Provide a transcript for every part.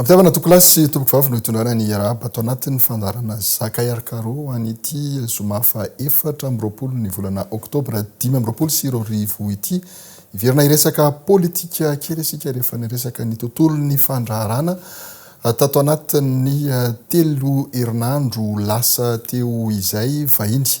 Ampitiavana Tokolasy sy Tompoko Vavy no itondrana ny Iarahabba ato anatin'ny fandaharana Zaka RKro ho an'ity Zoma faha efatra amby roapolo ny volana Oktobra dimy amby roapolo sy roa arivo ity. Hiverina hiresaka politika kely isika rehefa niresaka ny tontolon'ny fandraharana tato anatin'ny telo herinandro lasa teo izay vahiny.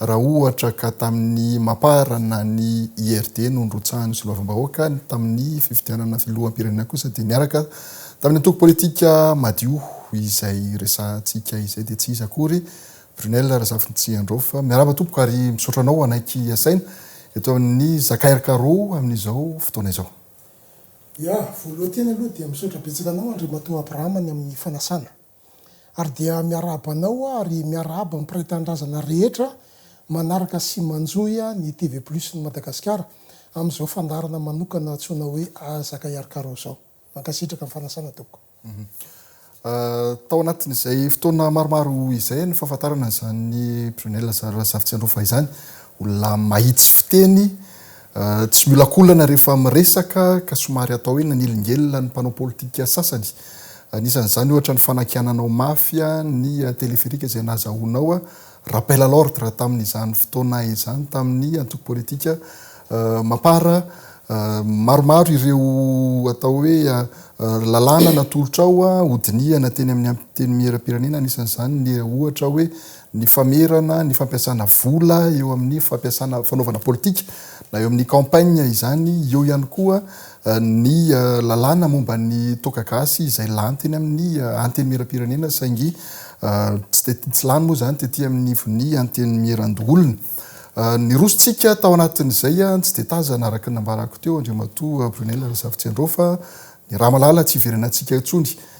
Raha ohatra ka tamin'ny Mapar na ny IRD no nirotsahan'ny soloavambahoaka, ny tamin'ny fifidianana filoham-pirenena kosa dia miaraka tamin'ny antoko politika Madio izay resahantsika izay dia tsy iza akory Brunelle Razafintsiandrao fa miarahaba tompoko ary misaotra anao hanaiky asaina eto amin'ny Zakairkaro amin'izao fotoana izao. Ya, voalohan-teny aloha dia misaotra betsaka anao Andriamatoa Abraham ny amin'ny fanasana. Ary dia miarahaba anao aho ary miarahaba ny mpiray tanindrazana rehetra manaraka sy manjohy ny TV Plus ny Madagasikara amin'izao fandaharana manokana antsoina hoe Azaka Iarkaro izao. Mankasitraka ny fanasana tompoko. Tao anatin'izay fotoana maromaro izay ny fahafantarana an'izany Brunella Razafitsiandraofa izany, olona mahitsy fiteny, Tsy miolakolana rehefa miresaka ka somary atao hoe nanelingelina ny mpanao politika sasany. Anisan'izany ohatra ny fanakiananao mafy ny téléphérique izay nahazahoanao rappel à l'ordre tamin'izany fotoana izany tamin'ny antoko politika Mapar. Maromaro ireo atao hoe lalàna natolotrao hodinihana teny amin'ny Antenimierampirenena, anisan'izany ny ohatra hoe ny famerana ny fampiasana vola eo amin'ny fampiasana fanaovana politika na eo amin'ny campagne izany, eo ihany koa ny lalàna momba ny toaka gasy izay lany teny amin'ny Antenimierampirenena saingy tsy dia tsy lany moa izany tety amin'ny ivon'ny Antenimierandoholona. Nirosontsika tao anatin'izay, tsy dia tazana araka ny nambarako teo Andriamatoa Brunelle Razafitsiandraofa, ny Ramalala tsy hiverenantsika intsony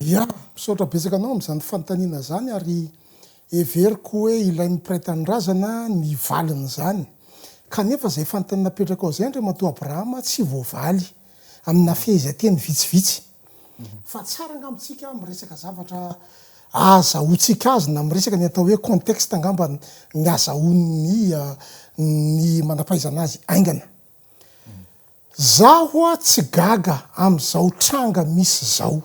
Ya! Misaotra betsaka anao amin'izany fanontaniana izany ary heveriko hoe ilain'ny mpiray tanindrazana ny valin'izany. Kanefa izay fanontaniana napetrakao izay Andriamatoa Abraham tsy voavaly amina fehezanteny vitsivitsy. Fa tsara angamba isika miresaka zavatra ahazahoantsika azy na miresaka ny atao hoe contexte angamba ny ahazahoan'ny ny manam-pahaizana azy haingana. Zah hoa tsy gaga amin'izao tranga misy izao.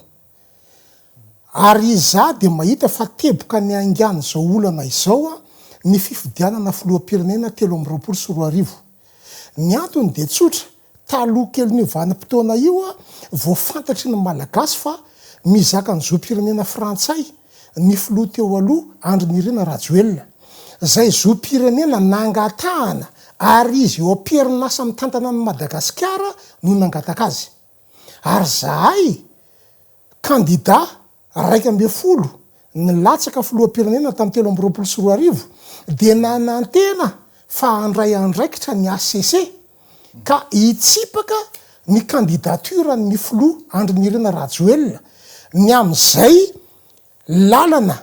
Ary izaho dia mahita fa teboka ny haingan'izao olana izao ny fifidianana filoham-pirenena telo amby roapolo sy roa arivo. Ny antony dia tsotra, taloha kelin'io vanim-potoana io, voafantatry ny Malagasy fa mizaka ny zom-pirenena frantsay ny filoha teo aloha Andry Nirina Rajoelina, izay zom-pirenena nangatahana ary izy eo am-perinasa mitantana an'i Madagasikara no nangataka azy. Ary izahay kandida iraika ambin'ny folo nilatsaka filoham-pirenena tamin'ny telo amby roapolo sy roa arivo dia nanantena fa handray andraikitra ny hcc, ka hitsipaka ny candidature ny filoha Andry Nirina Rajoelina ny amin'izay lalana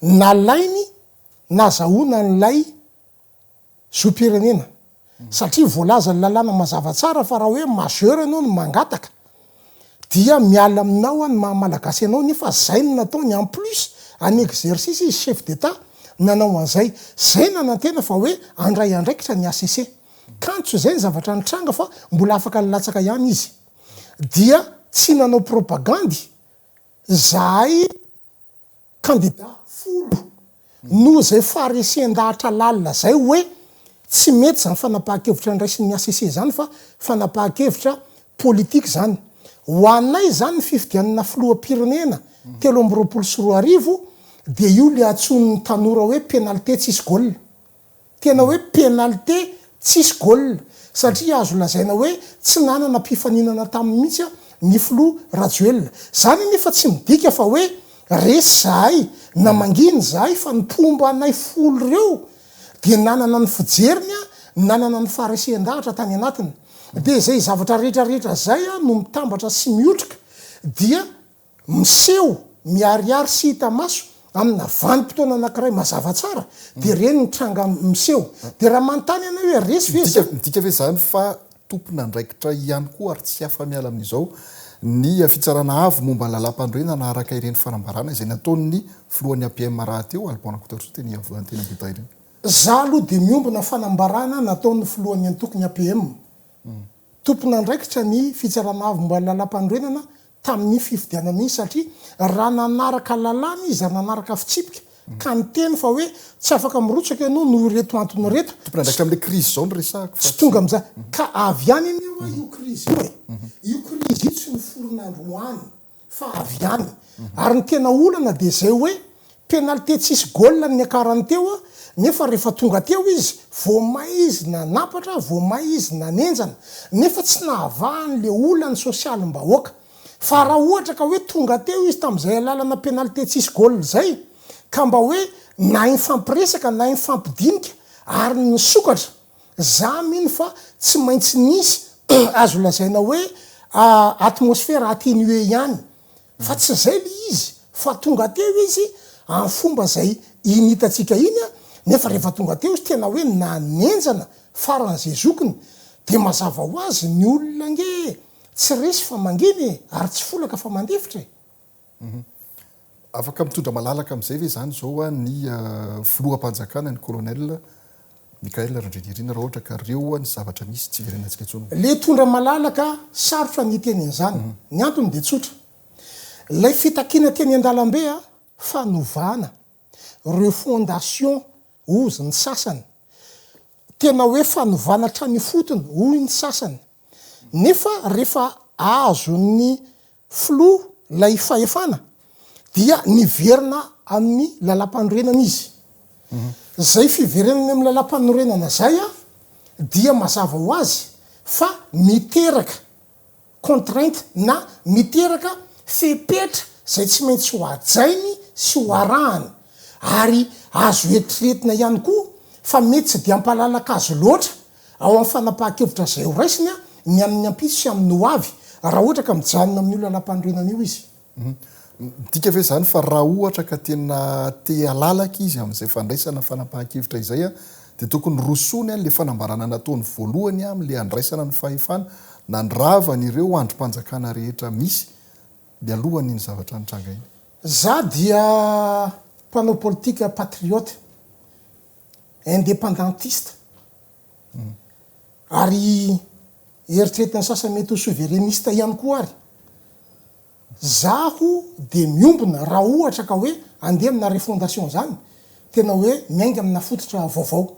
nalainy nazahoana an'ilay zom-pirenena satria voalazan'ny lalàna mazava tsara fa raha hoe majeur ianao no mangataka dia miala aminao aho ny maha malagasy anao nefa izay no nataony en plus en exercice izy chef d'Etat nanao an'izay, izay nanantena fa hoe handray andraikitra ny HCC. Kanto izay ny zavatra nitranga fa mbola afaka nilatsaka ihany izy. Dia tsy nanao propagandy izahay kandida folo noho izay faharesen-dahatra lalina izay hoe tsy mety izany fanapahan-kevitra niraisin'ny HCC izany fa fanapahan-kevitra politika izany. Ho anay izany ny fifidianana filoham-pirenena telo amby roapolo sy roa arivo dia io ilay antsoin'ny tanora hoe penalite tsisy goal. Tena hoe pénalité tsisy goal satria azo lazaina hoe tsy nanana mpifaninana taminy mihitsy ny filoha Rajoelina. Izany anefa tsy midika fa hoe resy izahay na mangina izahay fa ny mpomba anay folo ireo dia nanana ny fijeriny, nanana ny faharesen-dahatra tany anatiny. Dia izay zavatra rehetra rehetra izay no mitambatra sy mihotrika dia miseho miharihary sy hita maso amina vanim-potoana anankiray mazava tsara, dia ireny ny tranga miseho. Dia raha manontany anay hoe resy ve izany? Midika ve izany fa tompon'andraikitra ihany koa ary tsy afa-miala amin'izao ny Fitsarana Avo momba ny Lalàmpanorenana araka ireny fanambarana izay nataon'ny Filohan'ny APM rahateo, Alban Rakotoarisoa, teny Iavoloha Antenimiedah ireny? Izaho aloha dia miombona fanambarana nataon'ny Filohan'ny Antokony APM. tompon'andraikitra ny Fitsarana Avo momba ny Lalàmpanorenana tamin'io fifidianana iny satria raha nanaraka lalàna izy, raha nanaraka fitsipika ka niteny fa hoe tsy afaka mirotsaka ianao noho ireto antony ireto, Tompon'andraikitra amin'ilay krizy izao no resahako fa tsy. Tsy tonga amin'izany. Ka avy any anefa io krizy io e. Io krizy io tsy noforona androany. fa avy ihany. Ary ny tena olana dia izay hoe penalite tsisy goal no niakarany teo nefa rehefa tonga teo izy vao may izy nanampatra, vao may izy nanenjana nefa tsy nahavaha an'ilay olan'ny sosialim-bahoaka. Fa raha ohatra ka hoe tonga teo izy tamin'izay alalana penalite tsisy goal izay ka mba hoe nahay nifampiresaka, nahay nifampidinika ary nisokatra. Za mino fa tsy maintsy nisy azo lazaina hoe atmosfera atténuée ihany, fa tsy zay le izy fa tonga teo izy am fomba zay iny hitantsika iny a, nefa rehefa tonga teo izy tena hoe nanenjana faran ze zokiny de mazava ho azy ny olona ange tsy resy fa mangina e, ary tsy folaka fa mandefitra e. Afaka mitondra malalaka amin'izay ve izany izao ny filoham-panjakana, ny colonel Michaël Randrianirina raha ohatra ka reo ny zavatra misy tsy hiverenantsika intsony? Ilay hitondra malalaka, sarotra ny hiteny an'izany. Ny antony dia tsotra. Ilay fitakiana teny an-dalambe fanovana, refondation hozy ny sasany, tena hoe fanovana hatrany ifotony hoy ny sasany, nefa rehefa azon'ny Filoha ilay fahefana dia niverina amin'ny lalampanorenana izy. Izay fiverenany amin'ny lalampanorenana izay dia mazava ho azy fa miteraka contrainte na miteraka fepetra izay tsy maintsy ho hajainy sy ho arahany. Ary azo eritreretina ihany koa fa mety tsy dia hampalalaka azy loatra Ao amin'ny fanapahan-kevitra izay ho raisiny ny amin'ny ampitso sy amin'ny ho avy, raha ohatra ka mijanona amin'io lalàmpanorenana io izy. Midika ve izany fa raha ohatra ka tena te halalaka izy amin'izay fandraisana fanapahan-kevitra izay dia tokony horosoany an'ilay fanambarana nataony voalohany amin'ilay handraisana ny fahefana nandravany ireo andrim-panjakana rehetra misy mialohan'iny zavatra nitranga iny? Izaho dia mpanao politika patriote, independantiste ary eritreretin'ny sasany mety ho souverainiste ihany koa ary zaho dia miombona raha ohatra ka hoe andeha amina refondation zany tena hoe miainga amina fototra vaovao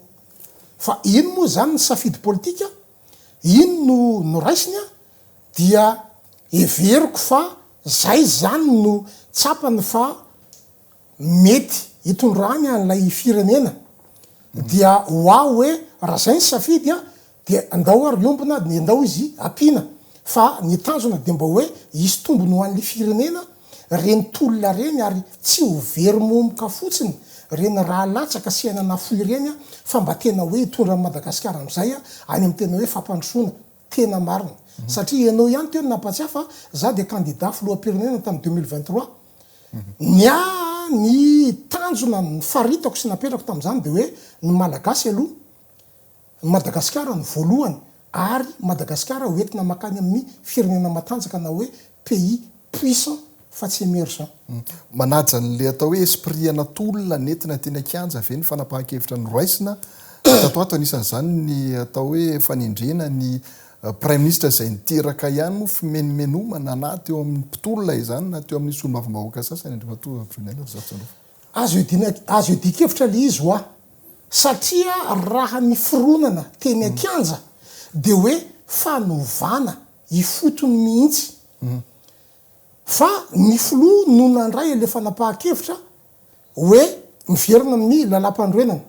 fa iny moa zany ny safidy politika iny no noraisiny an dia heveriko fa zay zany no tsapany fa mety hitondrany an'ilay firenena dia ho aho hoe raha zay ny safidy an dia ndao ary hiombona dia ndao izy ampiana fa ny tanjona dia mba hoe hisy tombony ho an'ny firenena reny tolona reny ary tsy ho very momoka fotsiny reny raha latsaka sy aina nafoy reny fa mba tena hoe hitondra an'i Madagasikara amzay any amin'ny tena hoe fampandrosoana Tena marina. Satria ianao ihany teo no nampahatsiahy fa za dia kandida filoham-pirenena tamin'ny deux mille vingt trois. Ny ahy ny tanjona nifaritako sy napetrako tamin'izany dia hoe ny Malagasy aloha, ny Madagasikara no voalohany ary Madagasikara hoentina mankany amin'ny firenena matanjaka na hoe pays puissant fa tsy emergent. Manaja an'ilay atao hoe esprit ana tolona nentina teny an-kianja ve ny fanapahan-kevitra noraisina? Tato ato anisan'izany ny atao hoe fanendrena ny praiminisitra izay niteraka ihany moa fimenomenomana na teo amin'ny mpitolona izany na teo amin'ny solombavambahoaka sasany, Andriamatoa Rajoelina Razafintsandraofo. Azo azo iadian-kevitra ilay izy ho'a, satria raha ny fironana teny an-kianja dia hoe fanovana ifotony mihitsy fa ny filoha no nandray ilay fanapahan-kevitra hoe miverina amin'ny lalàmpanorenana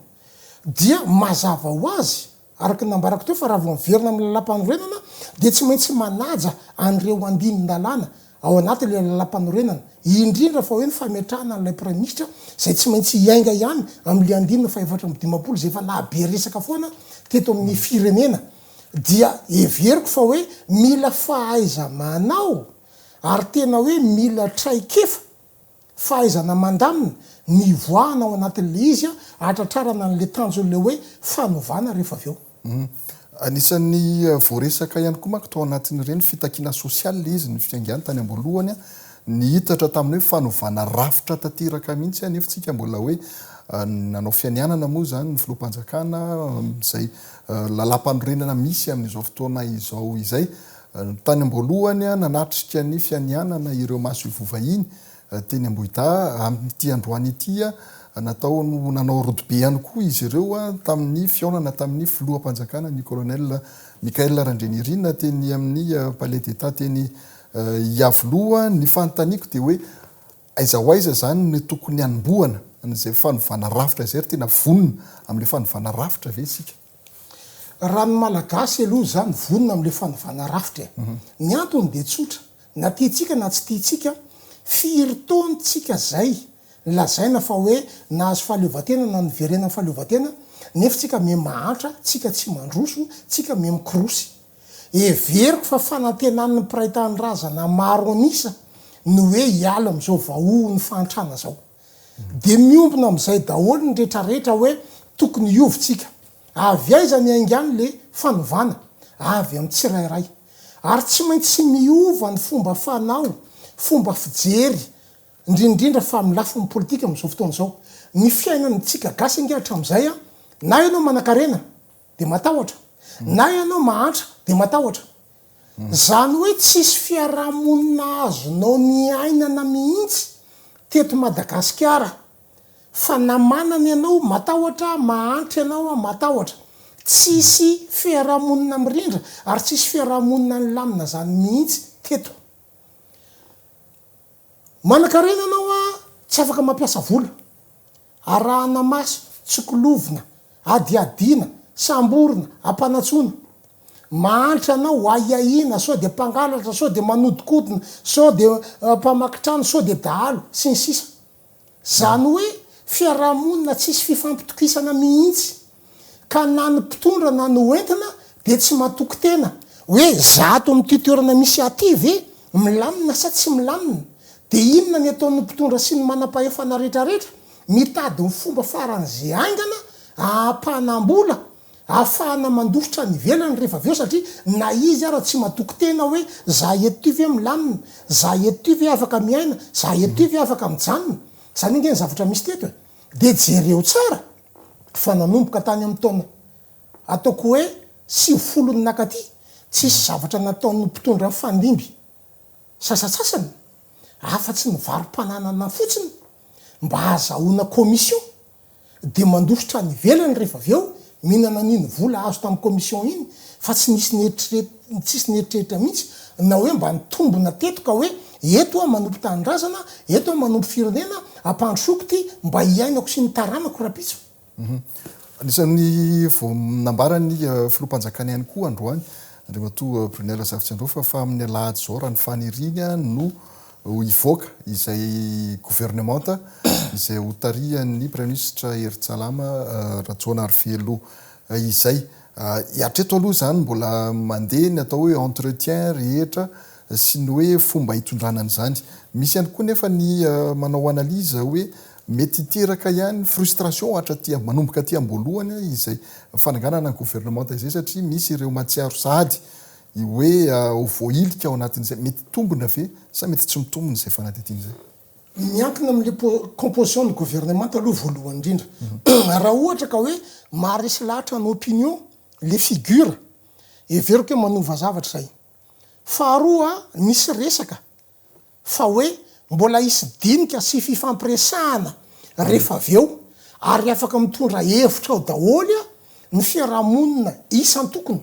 dia mazava ho azy araka ny nambarako teo fa raha vao miverina amin'ny lalàmpanorenana dia tsy maintsy manaja an'ireo andinin-dalàna ao anatin'ilay lalàmpanorenana indrindra fa hoe ny fametrahana an'ilay praiminisitra izay tsy maintsy hiainga ihany amin'ilay andinina fahaefatra amby dimampolo izay efa nahabe resaka foana teto amin'ny firenena dia heveriko fa hoe mila fahaiza-manao ary tena hoe mila traikefa, fahaizana mandamina, nivoahana ao anatin'ilay izy hahatratrarana an'ilay tanjon'ilay hoe fanovana rehefa avy eo. Anisan'ny voaresaka ihany koa manko tao anatin'ireny fitakiana sosialy ilay izy, ny fiaingàny tany am-boalohany, nihitatra tamin'ny hoe fanovana rafitra tanteraka mihitsy anefa isika mbola hoe nanao fianianana moa izany ny filoham-panjakana amin'izay Lalampanorenana misy amin'izao fotoana izao izay. Tany am-boalohany, nanatrika ny fianianana ireo masoivoho vahiny teny Ambohidahy. Amin'ity androany ity, natao nanao rodobe ihany koa izy ireo tamin'ny fihaonana tamin'ny filoham-panjakana, ny Colonel Michaël Randrianirina, teny amin'ny Palais d'Etat teny Iavoloha. Ny fanontaniako dia hoe. Aiza ho aiza izany no tokony hanombohana an'izay fanovana rafitra izay ry tena vonona amin'ilay fanovana rafitra ve isika? Raha ny Malagasy aloha izany vonona amin'ilay fanovana rafitra e! Ny antony dia tsotra, na tiantsika na tsy tiantsika, firy taona tsika izay lazaina fa hoe nahazo fahaleovantena na niverenan'ny fahaleovantena nefa tsika miha mahantra, tsika tsy mandroso, tsika miha mikorosy. Heveriko fa fanantenan'ny mpiray tanindrazana maro an'isa ny hoe hiala amin'izao vahohon'ny fahantrana izao. Dia miombona amin'izay daholo ny retraretra hoe tokony hiova isika. Avy aiza ny haingano le fanovana? Avy amin'ny tsirairay. Ary tsy maintsy miova ny fomba fanao, fomba fijery, indrindra indrindra fa amin'ny lafiny politika amin'izao fotoana izao. Ny fiainan'ntsika gasy ange hatramin'izay, na ianao manakarena, dia matahotra, na ianao mahantra dia matahotra. Izany hoe tsisy fiarahamonina azonao niainana mihitsy teto Madagasikara fa na manana ianao matahotra, mahantra ianao matahotra. Tsisy fiarahamonina mirindra ary tsisy fiarahamonina nilamina izany mihitsy teto. Manankarena ianao, tsy afaka mampiasa vola. arahana maso, tsokolovina, adihadiana, samborina, ampanatsoina. Mahantra anao, ho ahiahiana, sao dia mpangalatra, sao dia manodinkodina, sao dia mpamaky trano, sao dia dahalo, sy ny sisa. Izany hoe fiarahamonina tsisy fifampitokisana mihitsy. ka na ny mpitondra na ny hoentina dia tsy matoky tena hoe za ato amin'ity toerana misy ahy ity ve milamina sa tsy milamina? dia inona ny ataon'ny mpitondra sy ny manam-pahefana retraretra? mitady ny fomba faran'ze haingana ahapanam-bola ahafahana mandositra any ivelany rehefa avy eo satria na izy ara tsy matoky tena hoe za eto ity ve milamina? za eto ity ve afaka miaina? za eto ity ve afaka mijanona? zany ange ny zavatra misy teto e! dia jereo tsara Fa nanomboka tany amin'ny taona ataoko hoe sivifolo nakaty, tsisy zavatra nataon'ny mpitondra mifandimby sasatsasany afa-tsy ny varom-pananana fotsiny mba hahazahoana commission dia mandositra any ivelany rehefa avy eo mihinana an'iny vola azo tamin'ny commission iny fa tsy nisy nieritreretina Tsisy nieritreritra mihitsy na hoe mba nitombina teto ka hoe eto aho manompo tanindrazana, eto aho manompo firenena, ampandrosoko ity mba hiainako sy ny taranako rahampitso. Anisan'ny vao nambaran'ny Filoham-panjakana ihany koa androany, Andriamatoa Brunet Razafitsiandraofa fa amin'ny alahady izao raha ny faniriany no hivoaka izay governemanta izay hotarihan'ny Praiminisitra Hery Tsalama Rajaonarivelo izay. Ary hatreto aloha izany mbola mandeha ny atao hoe entretien rehetra sy ny hoe fomba hitondrana an'izany. Misy ihany koa nefa ny manao analyse hoe mety hiteraka ihany frustration hatraty manomboka aty am-boalohany izay fananganana ny governemanta izay satria misy ireo mahatsiaro sahady hoe ho voahilika ao anatin'izay mety hitombina ve sa mety tsy mitombina izay fanadihadiana izay. Miankina amin'ilay composition ny governemanta aloha voalohany indrindra. Raha ohatra ka hoe maharesy lahatra ny opinion ilay figure, heveriko hoe manova zavatra izay. Faharoa, nisy resaka fa hoe mbola hisy dinika sy fifampiresahana rehefa avy eo ary afaka mitondra hevitra ao daholo ny fiarahamonina isan-tokony.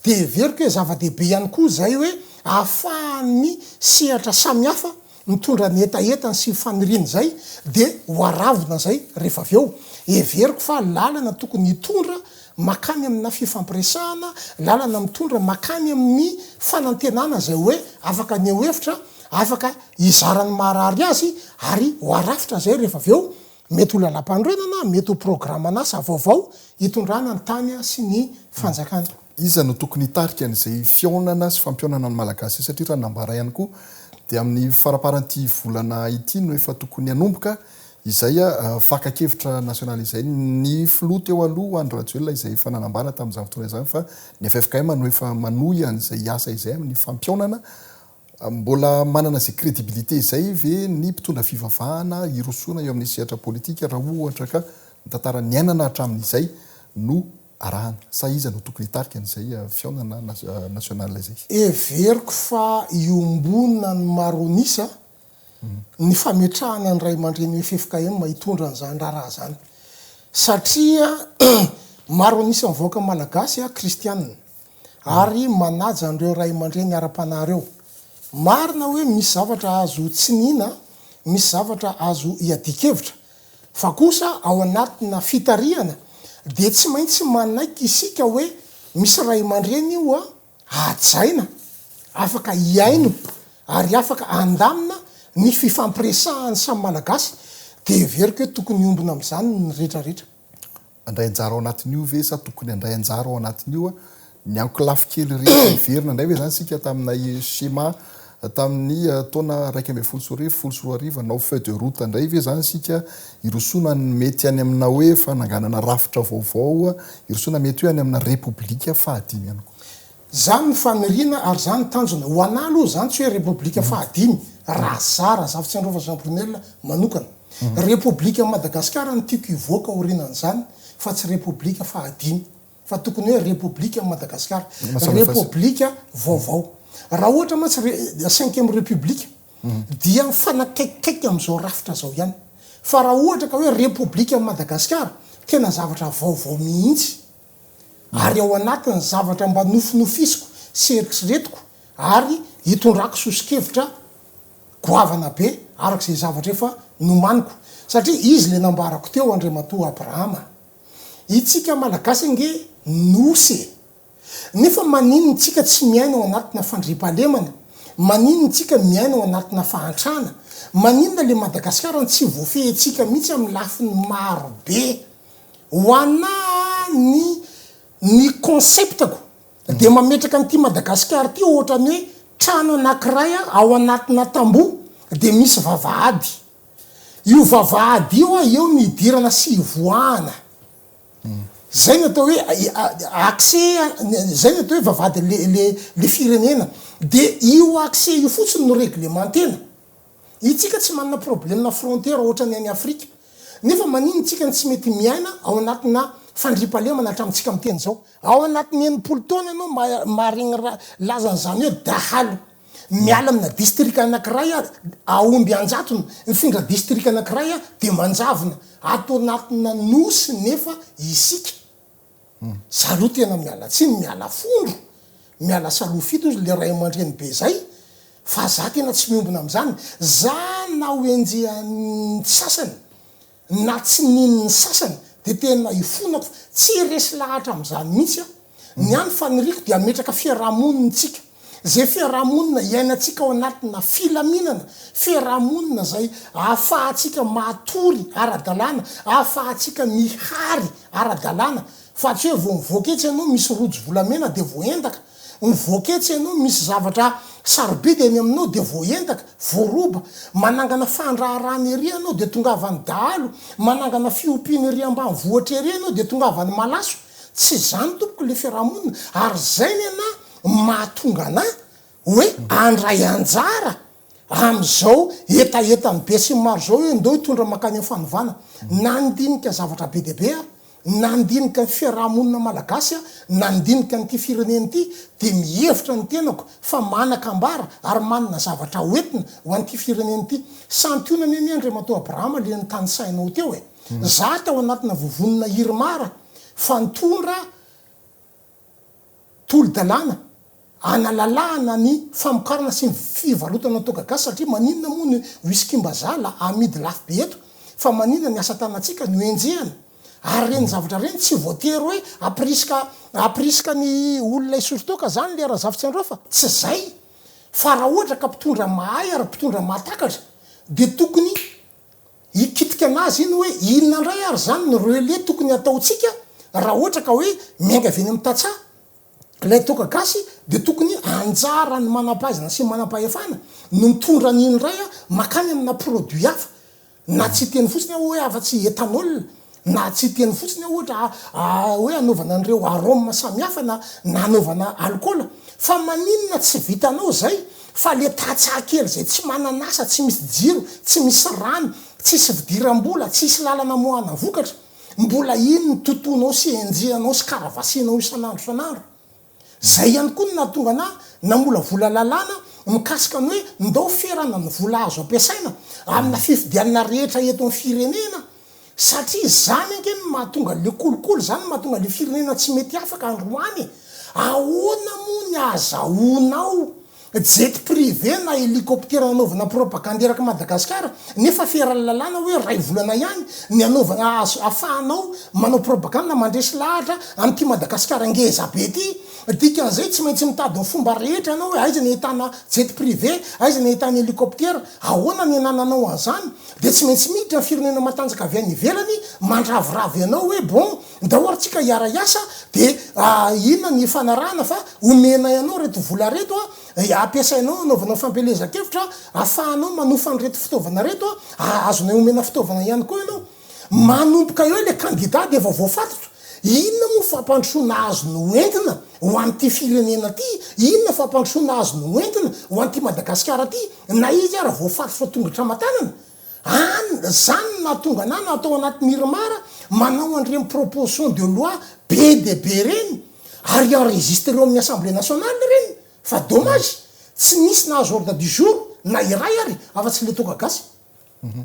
Dia heveriko hoe zava-dehibe ihany koa izay hoe ahafahan'ny sehatra samihafa mitondra ny hetahetany sy ny faniriany izay dia ho aravona izay rehefa avy eo. Heveriko fa lalana tokony hitondra makany amina fifampiresahana, lalana mitondra makany amin'ny fanantenana izay hoe afaka haneho hevitra, afaka hizara ny maharary azy ary ho arafitra izay rehefa avy eo. Mety ho lalampanorenana, mety ho programan'asa vaovao hitondrana ny tany sy ny fanjakana. Iza no tokony hitarika an'izay fihaonana sy fampihaonana ny Malagasy izay satria raha ny nambara ihany koa dia amin'ny faraparan'ity volana ity no efa tokony hanomboka izay fakan-kevitra nasionaly izay. Ny filoha teo aloha Andry Rajoelina izay efa nanambara tamin'izany fotoana izany fa ny ffkm no efa manohy an'izay asa izay amin'ny fampihaonana Mbola manana izay crédibilité izay ve ny mpitondra fivavahana hirosoana eo amin'ny sehatra politika raha ohatra ka ny tantara niainana hatramin'izay no arahana? Sa iza no tokony hitarika an'izay fihaonana national izay? Heveriko fa iombonana ny maronisa ny fametrahana ny ray aman-drenin'ny ffkm hitondra an'izany raharaha izany satria maronisa mivoaka malagasy kristianina. ary manaja an'ireo ray aman-dreny ara-panahy ireo. Marina hoe misy zavatra azo tsiniana, misy zavatra azo iadian-kevitra. Fa kosa ao anatina fitarihana dia tsy maintsy manaiky isika hoe misy ray aman-dreny oa hajaina, afaka hihaino ary afaka handamina ny fifampiresahan'ny samy Malagasy, dia heveriko hoe tokony hiombona amin'izany ny rehetrarehetra. handray anjara ao anatin'io ve sa tokony handray anjara ao anatin'io ny ankolafy kely rehetra niverina indray ve izany isika tamina schéma tamin'ny taona iraika ambin'ny folo sy roa arivo, folo sy roa arivo hanao feuille de route indray ve izany isika hirosoana ny mety any amina hoe fananganana rafitra vaovao hirosoana mety hoe any amina repoblika fahadimy ihany koa? Zany ny faniriana ary zany ny tanjona. Ho anah aloha zany tsy hoe repoblika faha dimy raha za Razafitsiandrova Jean Brunelle manokana. Repoblika an'i Madagasikara no tiako hivoaka aorinan'izany fa tsy repoblika faha dimy fa tokony hoe repoblika an'i Madagasikara. Repoblika vaovao. Raha ohatra mantsy re cinquième repoblika dia mifanakaikikaiky amin'izao rafitra zao ihany. Fa raha ohatra ka hoe repoblika an'i Madagasikara tena zavatra vaovao mihitsy. ary ao anatin'ny zavatra mba nofinofisiko sy eritreretiko ary itondrako soso-kevitra goavana be araka izay zavatra efa nomaniko satria izy ilay nambarako teo Andriamatoa Abrahama Itsika Malagasy ange nosy e! Nefa maninona itsika tsy miaina ao anatina fandriampahalemana? Maninona itsika miaina ao anatina fahantrana? Maninona le Madagasikara no tsy voafehintsika mihitsy amin'ny lafiny maro be? Ho ana ny ny concept-ko dia mametraka an'ity Madagasikara ity ohatran'ny hoe trano anankiray ao anatina tamboho dia misy vavahady. Io vavahady io eo ny hidirana sy hivoahana. Zay no atao hoe accès, zay no atao hoe vavahady le le le firenena. Dia io accès io fotsiny no reglementena. Itsika tsy manana problemna frontière ohatran'ny any Afrika, nefa manino itsika no tsy mety miaina ao anatina fandriampahalemana hatramintsika miteny zao? Ao anatin'ny enimpolo taona ianao maharegny raha lazany zany hoe dahalo miala amina distrika anakiray ary ahomby anjatony, mifindra distrika anakiray dia manjavona ato anatina nosy nefa isika Zalou tena miala tsiny miala fondro miala salou fito ozy le ray amandreny be zay fa za tena tsy miombona amzany za na ho enjehan'ny sasany na tsy ninon'ny sasany de tena ifonako tsy resy lahatra amzany mitsy aho ny any faniriko de ametraka fiarahamonintsika Izay fiarahamonina iainantsika ao anatina filaminana, fiarahamonina izay ahafahantsika matory ara-dalàna, ahafahantsika mihary ara-dalàna, fa tsy hoe vao mivoaka etsy ianao misy rojo volamena dia voaendaka, mivoaka etsy ianao misy zavatra sarobidy eny aminao dia voaendaka, voaroba, manangana fandraharahana ery ianao dia tongavan'ny dahalo, manangana fiompiana ery ambanivohitra ery ianao dia tongavan'ny malaso. Tsy izany tompoko ilay fiarahamonina, ary izay ny anà. mahatonga anà hoe handray anjara amin'izao hetahetan'ny besinimaro izao hoe ndao hitondra mankany amin'ny fanovana. Na ny ndinika zavatra be dia be aho, na ny ndinika ny fiaraha-monina malagasy aho, na ny ndinika an'ity firenena ity, dia mihevitra ny tenako fa manan-kambara ary manana zavatra ho entina ho an'ity firenena ity. Santionany anie Andriamatoa Abraham ilay notanisainao teo e! Za tao anatina vovonina Irmar fa nitondra tolo-dalàna analalahana ny famokarana sy ny fivarotana toaka gasy satria maninona moa ny whisky-mbazaha la amidy lafo be eto fa maninona ny asa tanantsika no enjehana ary ireny zavatra ireny tsy voatery hoe ampirisika ampirisika ny olona hisotro toaka zany le Razafitsiandrao fa tsy zay fa raha ohatra ka mpitondra mahay ary mpitondra mahatakatra de tokony Hikitika an'azy iny hoe inona indray ary izany no relais tokony hataontsika raha ohatra ka hoe miainga avy eny amin'ny tantsaha ilay toaka gasy dia tokony anjaran'ny manam-pahaizana sy manam-pahefana no mitondra an'iny iray mankany amina produit hafa na tsy hiteny fotsiny aho hoe afa-tsy ethanol Na tsy teny fotsiny aho ohatra hoe anaovana an'ireo arôme samihafa na na anaovana alikaola fa maninona tsy vitanao izay fa le tantsaha kely izay tsy manan'asa, tsy misy jiro, tsy misy rano, tsisy fidiram-bola, tsisy lalana amoahana vokatra, mbola iny no totoinao sy enjehanao sy karavasinao isan'andro isan'andro. Izay ihany koa no nahatonga anà namolavola lalàna mikasika ny hoe ndao ferana ny vola azo ampiasaina amina fifidianana rehetra eto amin'ny firenena satria izany ange no mahatonga an'ilay kolikoly, izany no mahatonga an'ilay firenena tsy mety afaka androany e! Ahoana moa ny ahazahoanao Jet privé na hélicoptère nanaovana propagande erak'i Madagasikara nefa feran'ny lalàna hoe iray volana ihany ny hanaovana azy hafahanao manao propagande na mandresy lahatra an'ity Madagasikara ngeza be ity. Dikan'izay tsy maintsy mitady ny fomba rehetra ianao hoe aiza ny ahitana jet privé, aiza ny ahitana hélicoptère, ahoana ny anananao an'izany. Dia tsy maintsy miditra ny firenena matanjaka avy any ivelany mandravoravo ianao hoe bon, Ndao ary tsika hiara hiasa de inona ny ifanarahana fa omenay anao reto vola reto a ampiasainao anaovanao fampielezan-kevitra afahanao manofa an'ireto fitaovana reto a azonay omena fitaovana ihany koa ianao. Manomboka eo ilay kandida dia efa voafatotra. Inona moa fampandrosoana azony ho entina ho an'ity firenena ity? Inona fampandrosoana azony ho entina ho an'ity Madagasikara ity na izy ara voafatotra tongotra aman-tanana? An, zany no nahatonga anah na tao anaty Mirmar manao an'ireny proposition de loi be dia be ireny ary enregistre eo amin'ny Assemblée nationale ireny fa dommage tsy nisy nahazo ordre du jour na iray ary afa tsy le toaka gasy.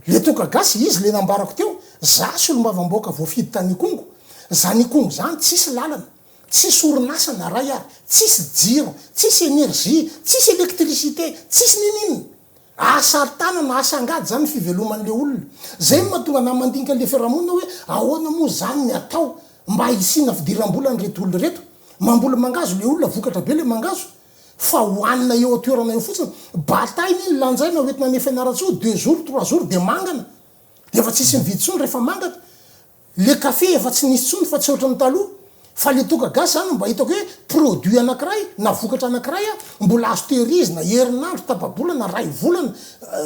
Le toaka gasy izy le nambarako teo, za solombavambahoaka voafidy tany Ikongo, zany Ikongo zany tsisy lalana, tsisy orinasa na iray ary, tsisy jiro, tsisy energie, tsisy électricité, tsisy ninininona. Asa ary tanana, asa angady zany ny fiveloman'le olona. Zay no mahatonga anah mandinika an'le fiarahamonina hoe ahoana moa zany ny atao mba hisiana fidiram-bola an'ireto olona ireto. Mamboly mangazo le olona, vokatra be le mangazo fa hohanina eo an-toerana eo fotsiny. Bataille anie no lanjaina hoentina any Fianarantsoa, deux jours, trois jours dia mangana. Dia efa tsisy mividy intsony rehefa mangana. Le café efa tsy nisy tsony fa tsy ohatran'ny taloha fa le toaka gasy zany mba hitako hoe produit anakiray na vokatra anakiray mbola azo tehirizina herinandro tapabolana ray volana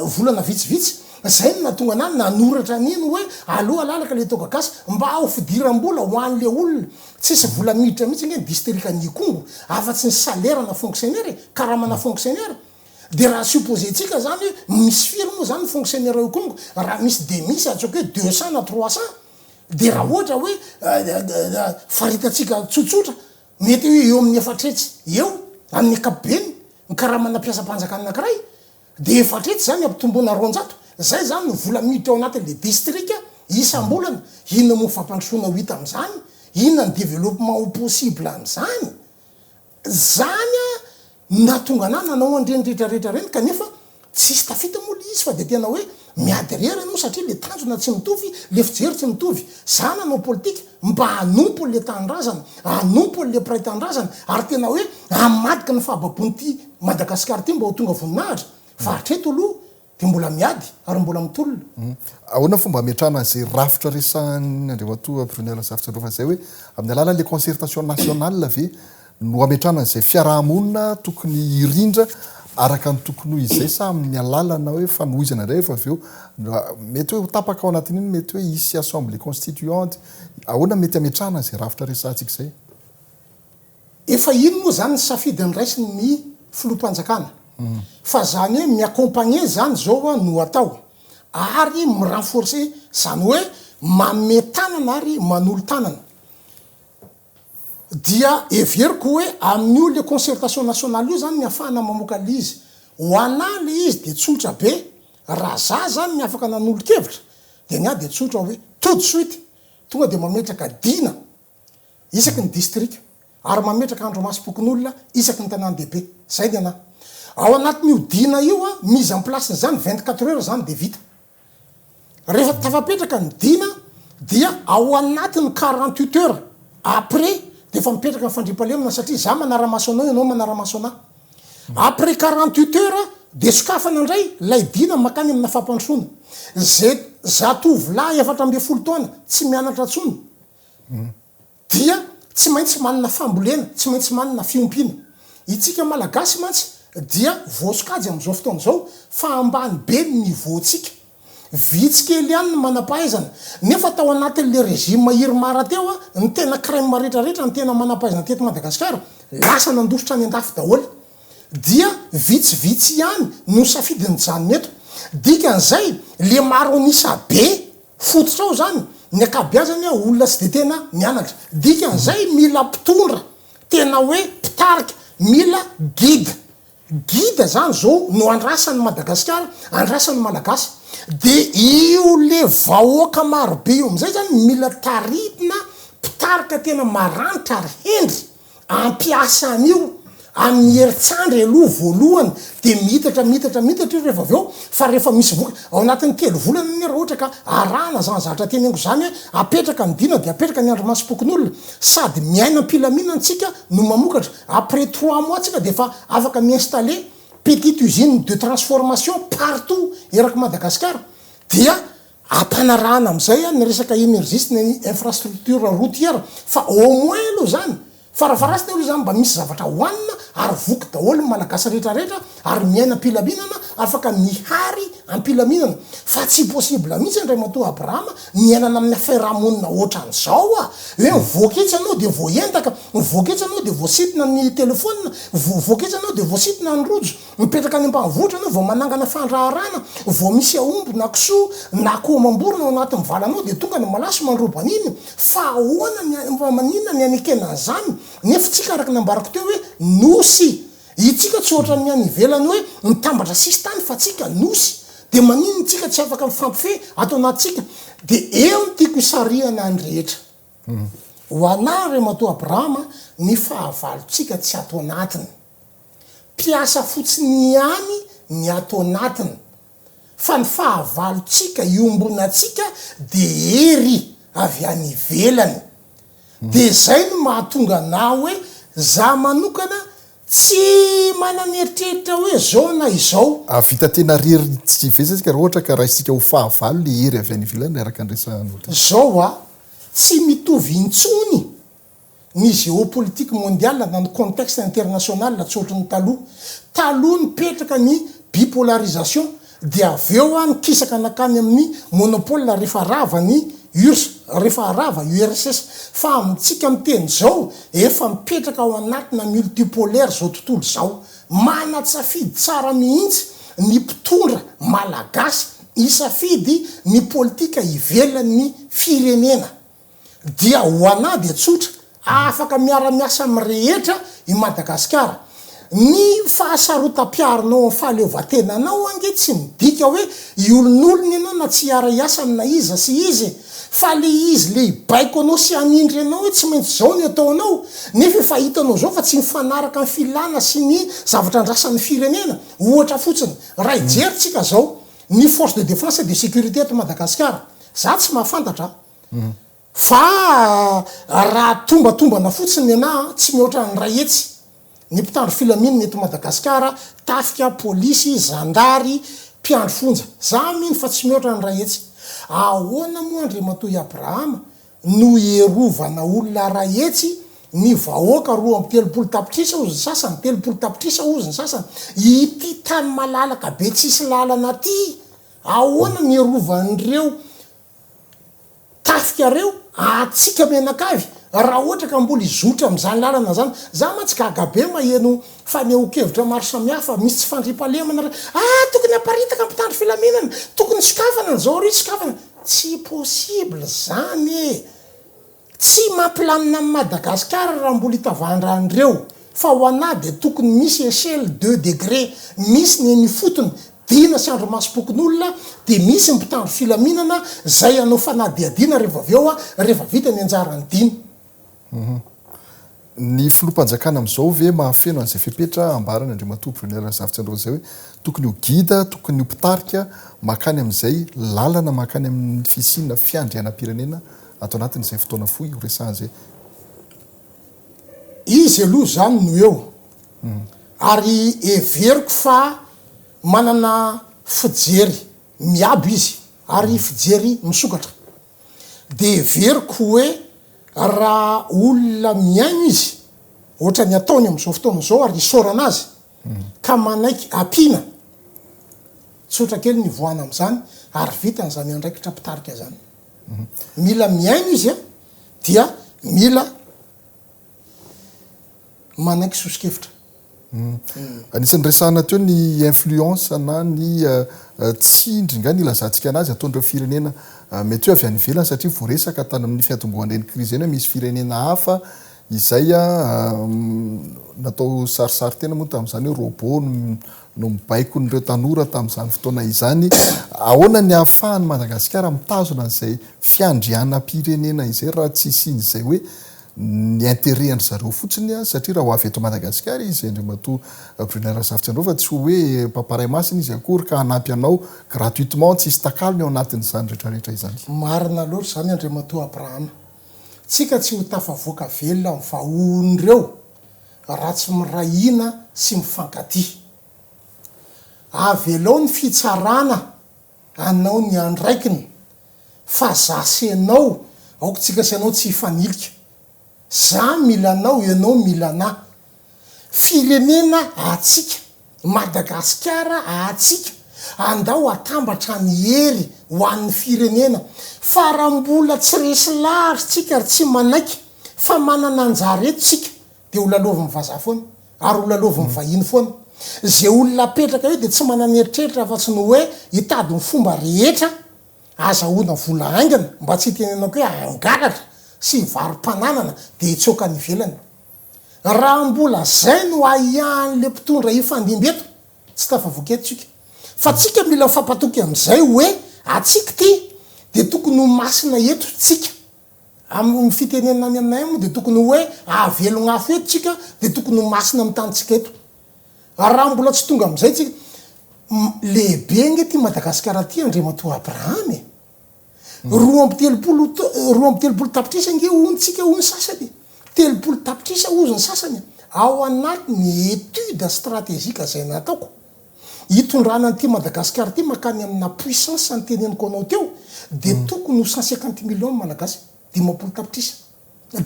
volana vitsivitsy zay no nahatonga anah nanoratra an'iny hoe aleo alalaka le toaka gasy mba ho fidirambola ho an'le olona tsisy vola miditra mitsy nge ny distrikan'Ikongo afa tsy ny salaire ana fonctionnaire e karamana fonctionnaire Dia raha supposentsika izany hoe misy firy moa izany ny fonctionnaires ao Ikongo, raha misy dia misy ataoko hoe deux cents na trois cents, dia raha ohatra hoe faritantsika tsotsotra mety hoe eo amin'ny efatra hetsy eo amin'ny ankapobeny ny karamanà mpiasam-panjakana anankiray, dia efatra hetsy izany ampitomboina roanjato, izay izany no vola miditra ao anatin'ilay distrika isam-bolana. Inona moa ny fampandrosoana ho hita amin'izany? Inona ny développement ho possible amin'izany? Zany no nahatonga anah nanao an'ireny retraretra ireny kanefa tsisy tafita moa le izy fa de tena hoe miady irery ianao satria le tanjona tsy mitovy, le fijery tsy mitovy. Zah nanao politika mba hanompo an'le tanindrazana, hanompo an'le mpiray tanindrazana ary tena hoe hamadika ny fahababoan'ity Madagasikara ity mba ho tonga voninahitra fa hatreto aloha Dia mbola miady ary mbola mitolona. Ahoana ny fomba hametrahana an'izay rafitra resahan'i Andriamatoa Brunet Razafijalova izay hoe amin'ny alalan'ilay concertation nationale ve no hametrahana an'izay fiaraha-monina tokony hirindra araka ny tokony ho izay sa amin'ny alalana hoe fanohizana indray rehefa avy eo mety hoe ho tapaka ao anatin'iny mety hoe hisy assemblée constituante? Ahoana mety hametrahana an'izay rafitra resahantsika izay? Efa iny moa zany ny safidy andraisiny ny filoham-panjakana fa zany hoe mi accompagner zany zao no atao ary mi renforcer zany hoe manome tanana ary manolo tanana dia heveriko hoe amin'io le concertation nationale io zany ny afahana mamoaka le izy ho anà le izy dia tsotra be raha za zany ny afaka nanolo-kevitra dia ny ahy dia tsotra hoe tout de suite tonga dia mametraka dina isaky ny distrika ary mametraka andromasom-pokonolona isaky ny tanàn-dehibe. Izay ny anah. Ao anatin'io dina io, mise en place n'izany, vingt quatre heures izany dia vita. Rehefa tafapetraka ny dina dia ao anatin'ny quarante huit heures après dia efa mipetraka ny fandriampahalemana satria izaho manara-maso anao, ianao manara-maso anah. Après quarante huit heures dia sokafana indray ilay dina mankany amina fampandrosoana. Izay zatovolahy efatra ambin'ny folo taona tsy mianatra intsony dia tsy maintsy manana fambolena, tsy maintsy manana fiompiana. Itsika Malagasy mantsy dia voasokajy amin'izao fotoana izao fa ambany be ny niveau-ntsika. Vitsy kely ihany ny manam-pahaizana. Nefa tao anatin'ilay régime Irmar teo, ny tena crème rehetrarehetra, ny tena manam-pahaizana teto Madagasikara, lasa nandositra any an-dafy daholo. Dia vitsivitsy ihany no safidin'ny mijanona eto. Dikan'izay, le maro an'isa be fototra ao zany, ny ankabeazany olona tsy de tena mianatra. Dikan'izay mila mpitondra, tena hoe mpitarika, mila guide. Guide zany zao no andrasan'i Madagasikara, andrasan'ny Malagasy. De io le vahoaka marobe io am'zay zany mila tarihina, mpitarika tena maranitra ary hendry. Ampiasa an'io amin'ny herintsandry aloha voalohany dia miitatra miitatra miitatra io rehefa avy eo fa rehefa misy vokatra ao anatin'ny telo volana anie raha ohatra ka arahana izany zavatra teneniko izany hoe apetraka ny dina dia apetraka ny andrimasom-pokonolona sady miaina am-pilaminana tsika no mamokatra après trois mois tsika dia efa afaka mi-installer petite usine de transformation partout erak'i Madagasikara dia Ampanarahana amin'izay any ny resaka énergie sy ny infrastructure routière fa au moins aloha izany, farafaharasiny aloha izany mba misy zavatra hohanina ary voky daholo ny Malagasy rehetrarehetra ary miaina am-pilaminana, afaka mihary am-pilaminana. Fa tsy possible mihitsy Andriamatoa Abraham miainana amin'ny fiarahamonina hoatran'izao a! Hoe mivoaka etsy ianao dia voaendaka, mivoaka etsy ianao dia voasintona ny telefaonina, voavoaka etsy ianao dia voasintona ny rojo, Mipetraka any ambanivohitra ianao vao manangana fandraharahana vao misy aomby na kisoa na akoho mamborona ao anatin'ny valanao dia tonga ny malaso mandroba an'iny fa ahoana ny any fa maninona ny hanekena an'izany nefa tsika araka ny ambarako teo hoe nosy itsika tsy ohatran'ny any ivelany hoe mitambatra sisintany fa tsika nosy dia maninona itsika tsy afaka mifampifehy ato anatintsika dia eo ny tiako hisarihana ny rehetra. Ho anao ry ramatoa Abrahama ny fahavalontsika tsy ato anatiny. Mpiasa fotsiny ihany ny ato anatiny fa ny fahavalontsika iombonantsika dia hery avy any ivelany. Dia izay no mahatonga anao hoe za manokana Tsy manana eritreritra hoe izao na izao. Hahavita tena rery tsy vitsy isika raha ohatra ka raisintsika ho fahavalo ilay hery avy any ivelany araka ny resahanao teo. Izao ho'a, tsy mitovy intsony ny géopolitique mondiale na ny contexte international tsy ohatry ny taloha. Taloha nipetraka ny bipolarisation Dia avy eo aho nikisaka nankany amin'ny Monopole rehefa rava ny urs, rehefa rava urss. Fa amintsika miteny izao, efa mipetraka ao anatina multipolaire izao tontolo izao. Manan-tsafidy tsara mihitsy ny mpitondra Malagasy hisafidy ny politika ivelan'ny firenena. Dia ho anah dia tsotra, afaka miara-miasa amin'ny rehetra i Madagasikara. Ny fahasarotam-piarinao amin'ny fahaleovantenanao ange tsy midika hoe hiolonolona ianao na tsy hiara-hiasa amina iza sy iza e! Fa le izy le hibaiko anao sy hanindry anao hoe tsy maintsy zao ny ataonao, nefa efa hitanao zao fa tsy mifanaraka ny filana sy ny zavatra andrasan'ny firenena. Ohatra fotsiny, raha hijery tsika zao ny force de defense et de securite eto Madagasikara, za tsy mahafantatra a! Fa raha tombatombana fotsiny ny anah, tsy mihoatra ny iray hetsy ny mpitandro filaminana eto Madagasikara, tafika, polisy, zandary, mpiandry fonja. Za mino fa tsy mihoatra ny iray hetsy. Ahoana moa Andriamatoa i Abrahama no hierovana olona iray hetsy, ny vahoaka roa amby telopolo tapitrisa hozy ny sasany, telopolo tapitrisa hozy ny sasany, ity tany malalaka be tsisy lalana ty, ahoana no hierovana an'ireo Tafikareo atsika mianakavy raha ohatra ka mbola hizotra amin'izany lalana izany. Za mantsy gaga be maheno fanehoan-kevitra maro samihafa, misy tsy fandriampahalemana re, ah tokony haparitaka ny mpitandro filaminana, tokony sokafana ny zaory sokafana, tsy possible izany e! Tsy mampilamina an'i Madagasikara raha mbola itavahan-drano ireo fa ho anah dia tokony misy echelle de degre misy ny eny ifotony dina sy andromasom-pokonolona dia misy ny mpitandro filaminana zay hanao fanadihadiana rehefa avy eo rehefa vita ny anjarany dina Ny filoham-panjakana amin'izao ve mahafeno an'izay fepetra ambaran' Andriamatoa Brunet Razafitsy androany izay hoe tokony ho gida, tokony ho mpitarika mankany amin'izay lalana mankany amin'ny fisiana fiandrianam-pirenena ato anatin'izay fotoana fohy horesahana izay? Izy aloha izany no eo ary heveriko fa manana fijery miabo izy ary fijery misokatra. Dia heveriko hoe raha olona mihaino izy ohatran'ny ataony amin'izao fotoana izao ary isaorana azy ka manaiky ampiana, tsotra kely ny hivoahana amin'izany ary vita izany andraikitra mpitarika izany. Mila mihaino izy dia mila. manaiky soso-kevitra. Anisan'ny resahana teo ny influence na ny tsindry nga ny ilazantsika anazy ataon'ireo firenena mety hoe avy any ivelany satria voaresaka tany amin'ny fiatombohan'ireny krizy ireny hoe misy firenena hafa izay natao sarisary tena moa tamin'izany hoe robot no mibaiko an'ireo tanora tamin'izany fotoana izany. Ahoana ny ahafahan'i Madagasikara mitazona an'izay fiandrianam-pirenena izay raha tsy hisian'izay hoe ny interet an-dry zareo fotsiny satria raha ho avy eto Madagasikara izy Andriamatoa Brunet Razafitsiandraofa tsy ho hoe mpamparay masina izy akory ka hanampy anao gratuitement tsisy takalony ao anatin'izany rehetra rehetra izany. Marina loatra izany Andriamatoa Abraham. Tsika tsy ho tafavoaka velona amin'ny vahohon'ireo raha tsy miray hina sy mifankatia. Avelao ny fitsarana Anao ny andraikiny fa za sy enao aoka tsika sy anao tsy hifanilika za mila anao enao mila ana firenena atsika madagasikara atsika andao atambatra ny hery ho an'ny firenena fa ra mbola tsy resy lahatra tsika ry tsy manaiky fa manana anjara eto tsika de ho lalaovin'ny vazaha foana Ary ho lalaovin'ny vahiny foana. Izay olona apetraka eo dia tsy manana eritreritra afa-tsy ny hoe hitady ny fomba rehetra ahazahoana vola haingana, mba tsy hitenenako hoe hangalatra sy hivarom-pananana dia hitsoaka any ivelany. Raha mbola izay no ahiahin'ilay mpitondra hifandimby eto, tsy tafavoaka eto tsika. Fa tsika mila mifampatoky amin'izay hoe atsika ity dia tokony ho masina eto tsika. Amin'ny fitenenana any aminay any moa dia tokony ho hoe ahavelogna afo eto tsika dia tokony ho masina amin'ny tanintsika eto. Ary raha mbola tsy tonga amin'izay tsika, lehibe ange ity Madagasikara ity Andriamatoa Abraham e! Roa amby telopolo roa amby telopolo tapitrisa ange hono tsika hoy ny sasany e! Telopolo tapitrisa hozy ny sasany ao anatin'ny étude stratégique izay nataoko. hitondrana an'ity Madagascar ity makany amina puissance ny teneniko anao teo dia tokony ho cent cinquante millions ny Malagasy dimampolo tapitrisa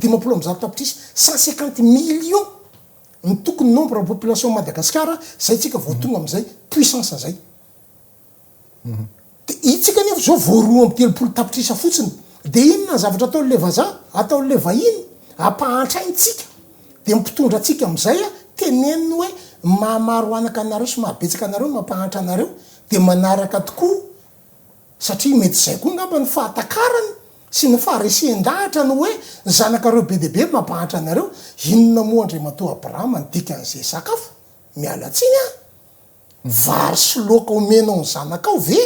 dimampolo amby zato tapitrisa cent cinquante millions no tokony nombre population Madagascar zay tsika vao tonga amizay puissance zay Dia isika anefa izao vao roa amby telopolo tapitrisa fotsiny. Dia inona ny zavatra ataon'ilay vazaha? Ataon'ilay vahiny? Ampahantra aina isika. Dia ny mpitondra antsika amin'izay, teneniny hoe, Mahamaro anaka anareo sy mahabetsaka anareo no mampahantra anareo. Dia manaraka tokoa, satria mety izay koa angamba no fahatakarany sy ny faharesen-dahatra ny hoe, zanakareo be dia be mampahantra anareo. Inona moa Andriamatoa Abrahama ny dikan'izay sakafo? Miala tsiny an! Vary sy loaka omenao ny zanakao ve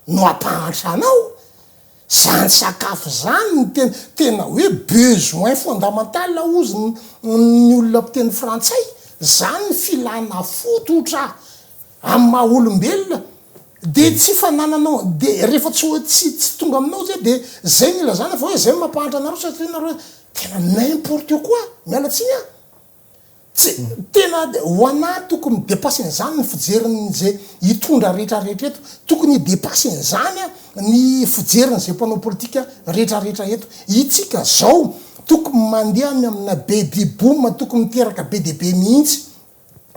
no ampahantra anao? Zany sakafo zany no tena tena hoe besoin fondamental ozy ny olona mpiteny frantsay, zany ny filana fototra amin'ny maha olombelona, de tsy fanananao de rehefa tsy hoe tsy tsy tonga aminao zay de zay no ilazana fa hoe zay no mampahantra anareo satria nareo tena n'importe quoi, miala tsiny an! Tsy, tena ho anah tokony ho depasena izany ny fijerin'izay hitondra rehetra rehetra eto. Tokony hidepasena izany ny fijerin'izay mpanao politika rehetra rehetra eto. Itsika izao tokony mandeha any amina baby boom tokony miteraka be dia be mihitsy.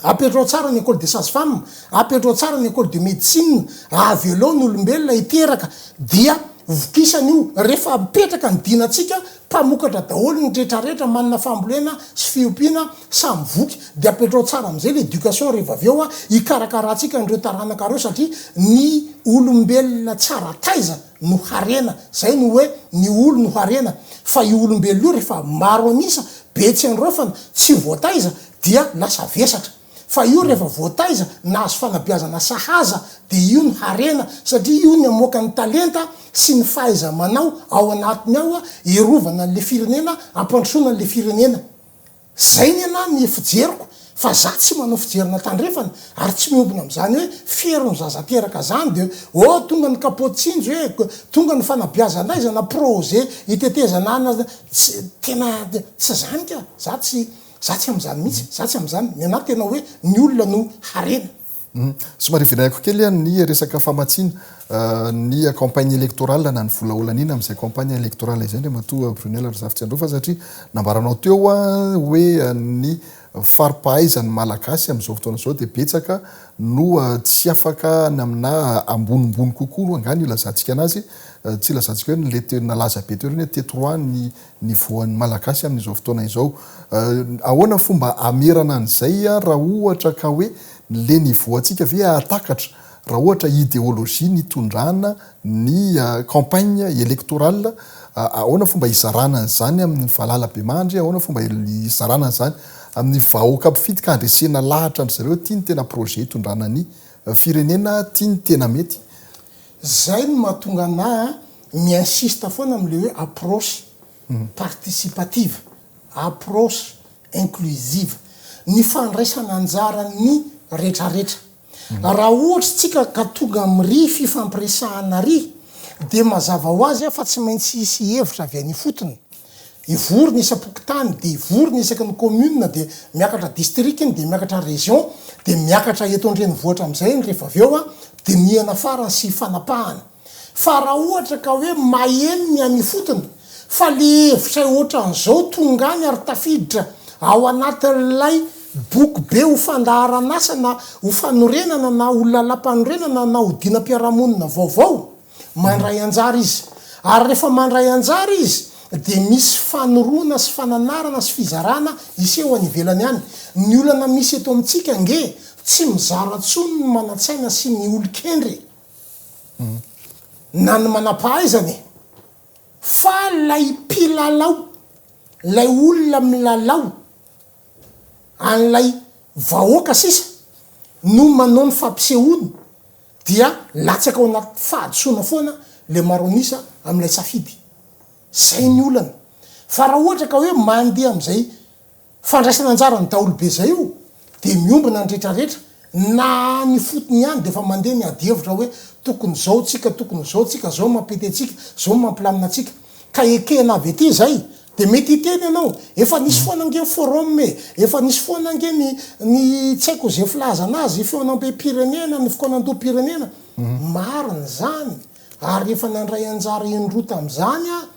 Apetrao tsara ny ecole des sages femmes, apetrao tsara ny ecole de medecine, avelao ny olombelona hiteraka dia vokisany io. Rehefa mipetraka ny dinantsika, Mpamokatra daholo ny rehetra rehetra manana fambolena sy fiompiana samy voky de apetrao tsara amizay le education reva avy eo hikarakarantsika an'ireo taranaka reo satria ny olombelona tsara taiza no harena zay no oe ny olo no harena fa io olombelona io refa maro anisa be tsy androafana tsy voataiza dia lasa vesatra fa io rehefa voataiza nahazo fanabeazana sahaza dia io no harena satria io ny amoaka ny talenta sy ny fahaiza manao ao anatiny ao erovana anle firenena ampandrosoana anle firenena zay ny ana ny fijeriko fa za tsy manao fijerina tandrefana ary tsy miombona amzany hoe fiero ny zaza teraka zany de oh tonga ny kapoty tsinjo eh tonga ny fanabeazandaizana projet itetezana ana tsy tena tsy zany ka za tsy Za tsy amin'izany mihitsy, za tsy amin'izany. Ny anah tena hoe ny olona no harena. Somary vinayako kely an ny resaka famatsiana ny campagne electorale na ny vola holaniana amin'izay campagne electorale izay Andriamatoa Brunelle Razafitsiandraofa satria nambaranao teo hoe ny fari-pahaizan'ny Malagasy amin'izao fotoana izao dia betsaka no tsy afaka na aminà ambonimbony kokoa aloha angaha no ilazantsika anazy, tsy ilazantsika hoe le teo nalaza be teo ireny hoe teto roa ny ny voan'ny Malagasy amin'izao fotoana izao. Ahoana ny fomba hamerana an'izay raha ohatra ka hoe le ny voantsika ve hahatakatra raha ohatra ideologie nitondrana ny campagne électorale? Ahoana fomba hizarana an'izany amin'ny valala bemandry? Ahoana fomba hizarana an'izany amin'ny vahoaka mpifidy ka handresena lahatra an-dry zareo aty ny tena projet hitondrana ny firenena aty ny tena mety? Zay no mahatonga anah a mi-insiste foana am le hoe approche participative, approche inclusive, ny fandraisana anjaran ny retraretra. Raha ohatra tsika ka tonga am ry fifampiresahana ry dia mazava ho azy a fa tsy maintsy hisy hevitra avy any ifotony. Ivory ny isam-pokontany, dia ivory ny isaky ny commune, dia miakatra district iny, dia miakatra région, dia miakatra eto an-drenivohitra amin'izay iny rehefa avy eo an, dinihana farany sy fanapahana. Fa raha ohatra ka hoe maheno ny any ifotony, fa le hevitray ohatran'izao tonga any ary tafiditra ao anatin'ilay boky be ho fandaharan'asa na ho fanorenana na ho lalam-panorenana na ho dinam-piarahamonina vaovao, Mandray anjara izy. Ary rehefa mandray anjara izy dia misy fanoroana sy fananarana sy fizarana hiseho any ivelany any. Ny olana misy eto amintsika ange tsy mizara intsony ny manan-tsaina sy ny olon-kendry e! Na ny manam-pahaizana e! Fa ilay mpilalao, ilay olona milalao an'ilay vahoaka sisa no manao ny fampisehoany. Dia latsaka ao anaty fahadisoana foana ilay maro an'isa amin'ilay safidy. Izay ny olana. Fa raha ohatra ka hoe mandeha amin'izay fandraisana anjaran'ny daholobe izay io, dia miombona ny rehetrarehetra, na any ifotony ihany dia efa mandeha ny adihevitra hoe tokony izao tsika, tokony izao tsika, izao no mampety antsika, izao no mampilamina antsika. Ka ekena avy ety izay, Dia mety hiteny ianao, efa nisy foana ange ny forum e, efa nisy foana ange ny ny tsy haiko izay filaza anazy, fihaonambem-pirenena, ny fikaonandoham-pirenena. Marina izany, ary efa nandray anjara indroa tamin'izany aho,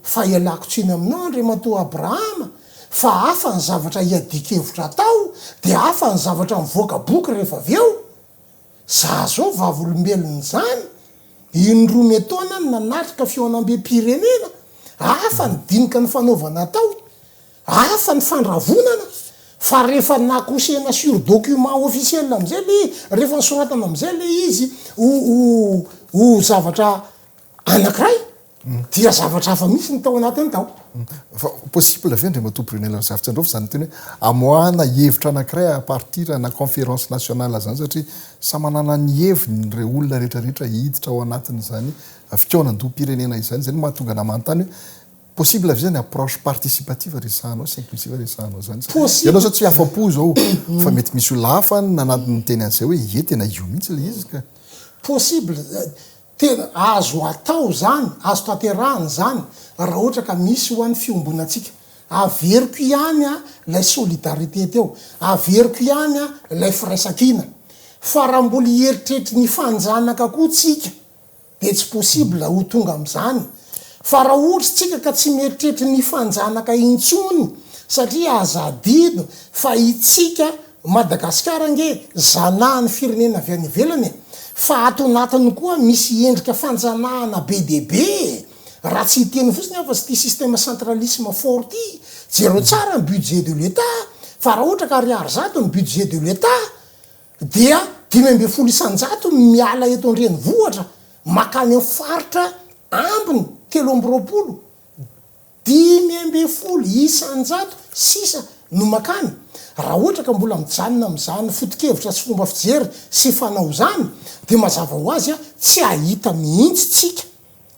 fa ialako tsiny aminao Andriamatoa Abrahama, fa hafa ny zavatra iadian-kevitra atao, dia hafa ny zavatra mivoaka boky rehefa avy eo. Za zao vavolombelona izany in roa me taona no nanatrika fihaonambe pirenena, hafa ny dinika nifanaovana atao, hafa ny fandravonana, fa rehefa nakosehina sur document officiel amizay le, rehefa nosoratana amizay le izy ho ho zavatra Anakiray? Dia zavatra hafa mihitsy no tao anatiny tao. Fa possible ve Andriamatoa Brunel Razafintsandraofy izany miteny hoe amoahana hevitra anakiray à partir na conférence nationale izany satria samy manana ny heviny ireo olona rehetra rehetra hiditra ao anatin'izany fikaonandoham-pirenena izany, izay no mahatonga anah manontany hoe possible ve izany approche participative resahanao sy inclusive resahanao izany satria ianao izao tsy afa-po izao fa mety misy olona hafa nanantony niteny an'izay hoe ie tena io mihitsy ilay izy ka. Possible, Tena azo atao izany, azo tanterahina izany raha ohatra ka misy ho an'ny fiombonantsika. Averiko ihany ilay solidarité teo, averiko ihany ilay firaisankina, fa raha mbola hieritreritry ny fanjanaka koa tsika dia tsy possible ho tonga amin'izany, fa raha ohatra tsika ka tsy mieritreritra ny fanjanaka intsony, satria aza adino fa itsika Madagasikara ange zanahan'ny firenena avy any ivelany e! Fa ato anatiny koa misy endrika fanjanahana be dia be e! Raha tsy hiteny fotsiny aho fa s'ty système centralisme fort ty, jereo tsara ny budget de l'Etat fa raha ohatra ka ariary zato ny budget de l'Etat dia dimy ambin'ny folo isan-jato no miala eto an-drenivohitra makany amin'ny faritra ambiny telo amby roapolo Dimy ambin'ny folo isan-jato sisa no mankany. Raha ohatra ka mbola mijanona amin'izany foto-kevitra sy fomba fijery sy fanao izany, dia mazava ho azy, tsy hahita mihitsy tsika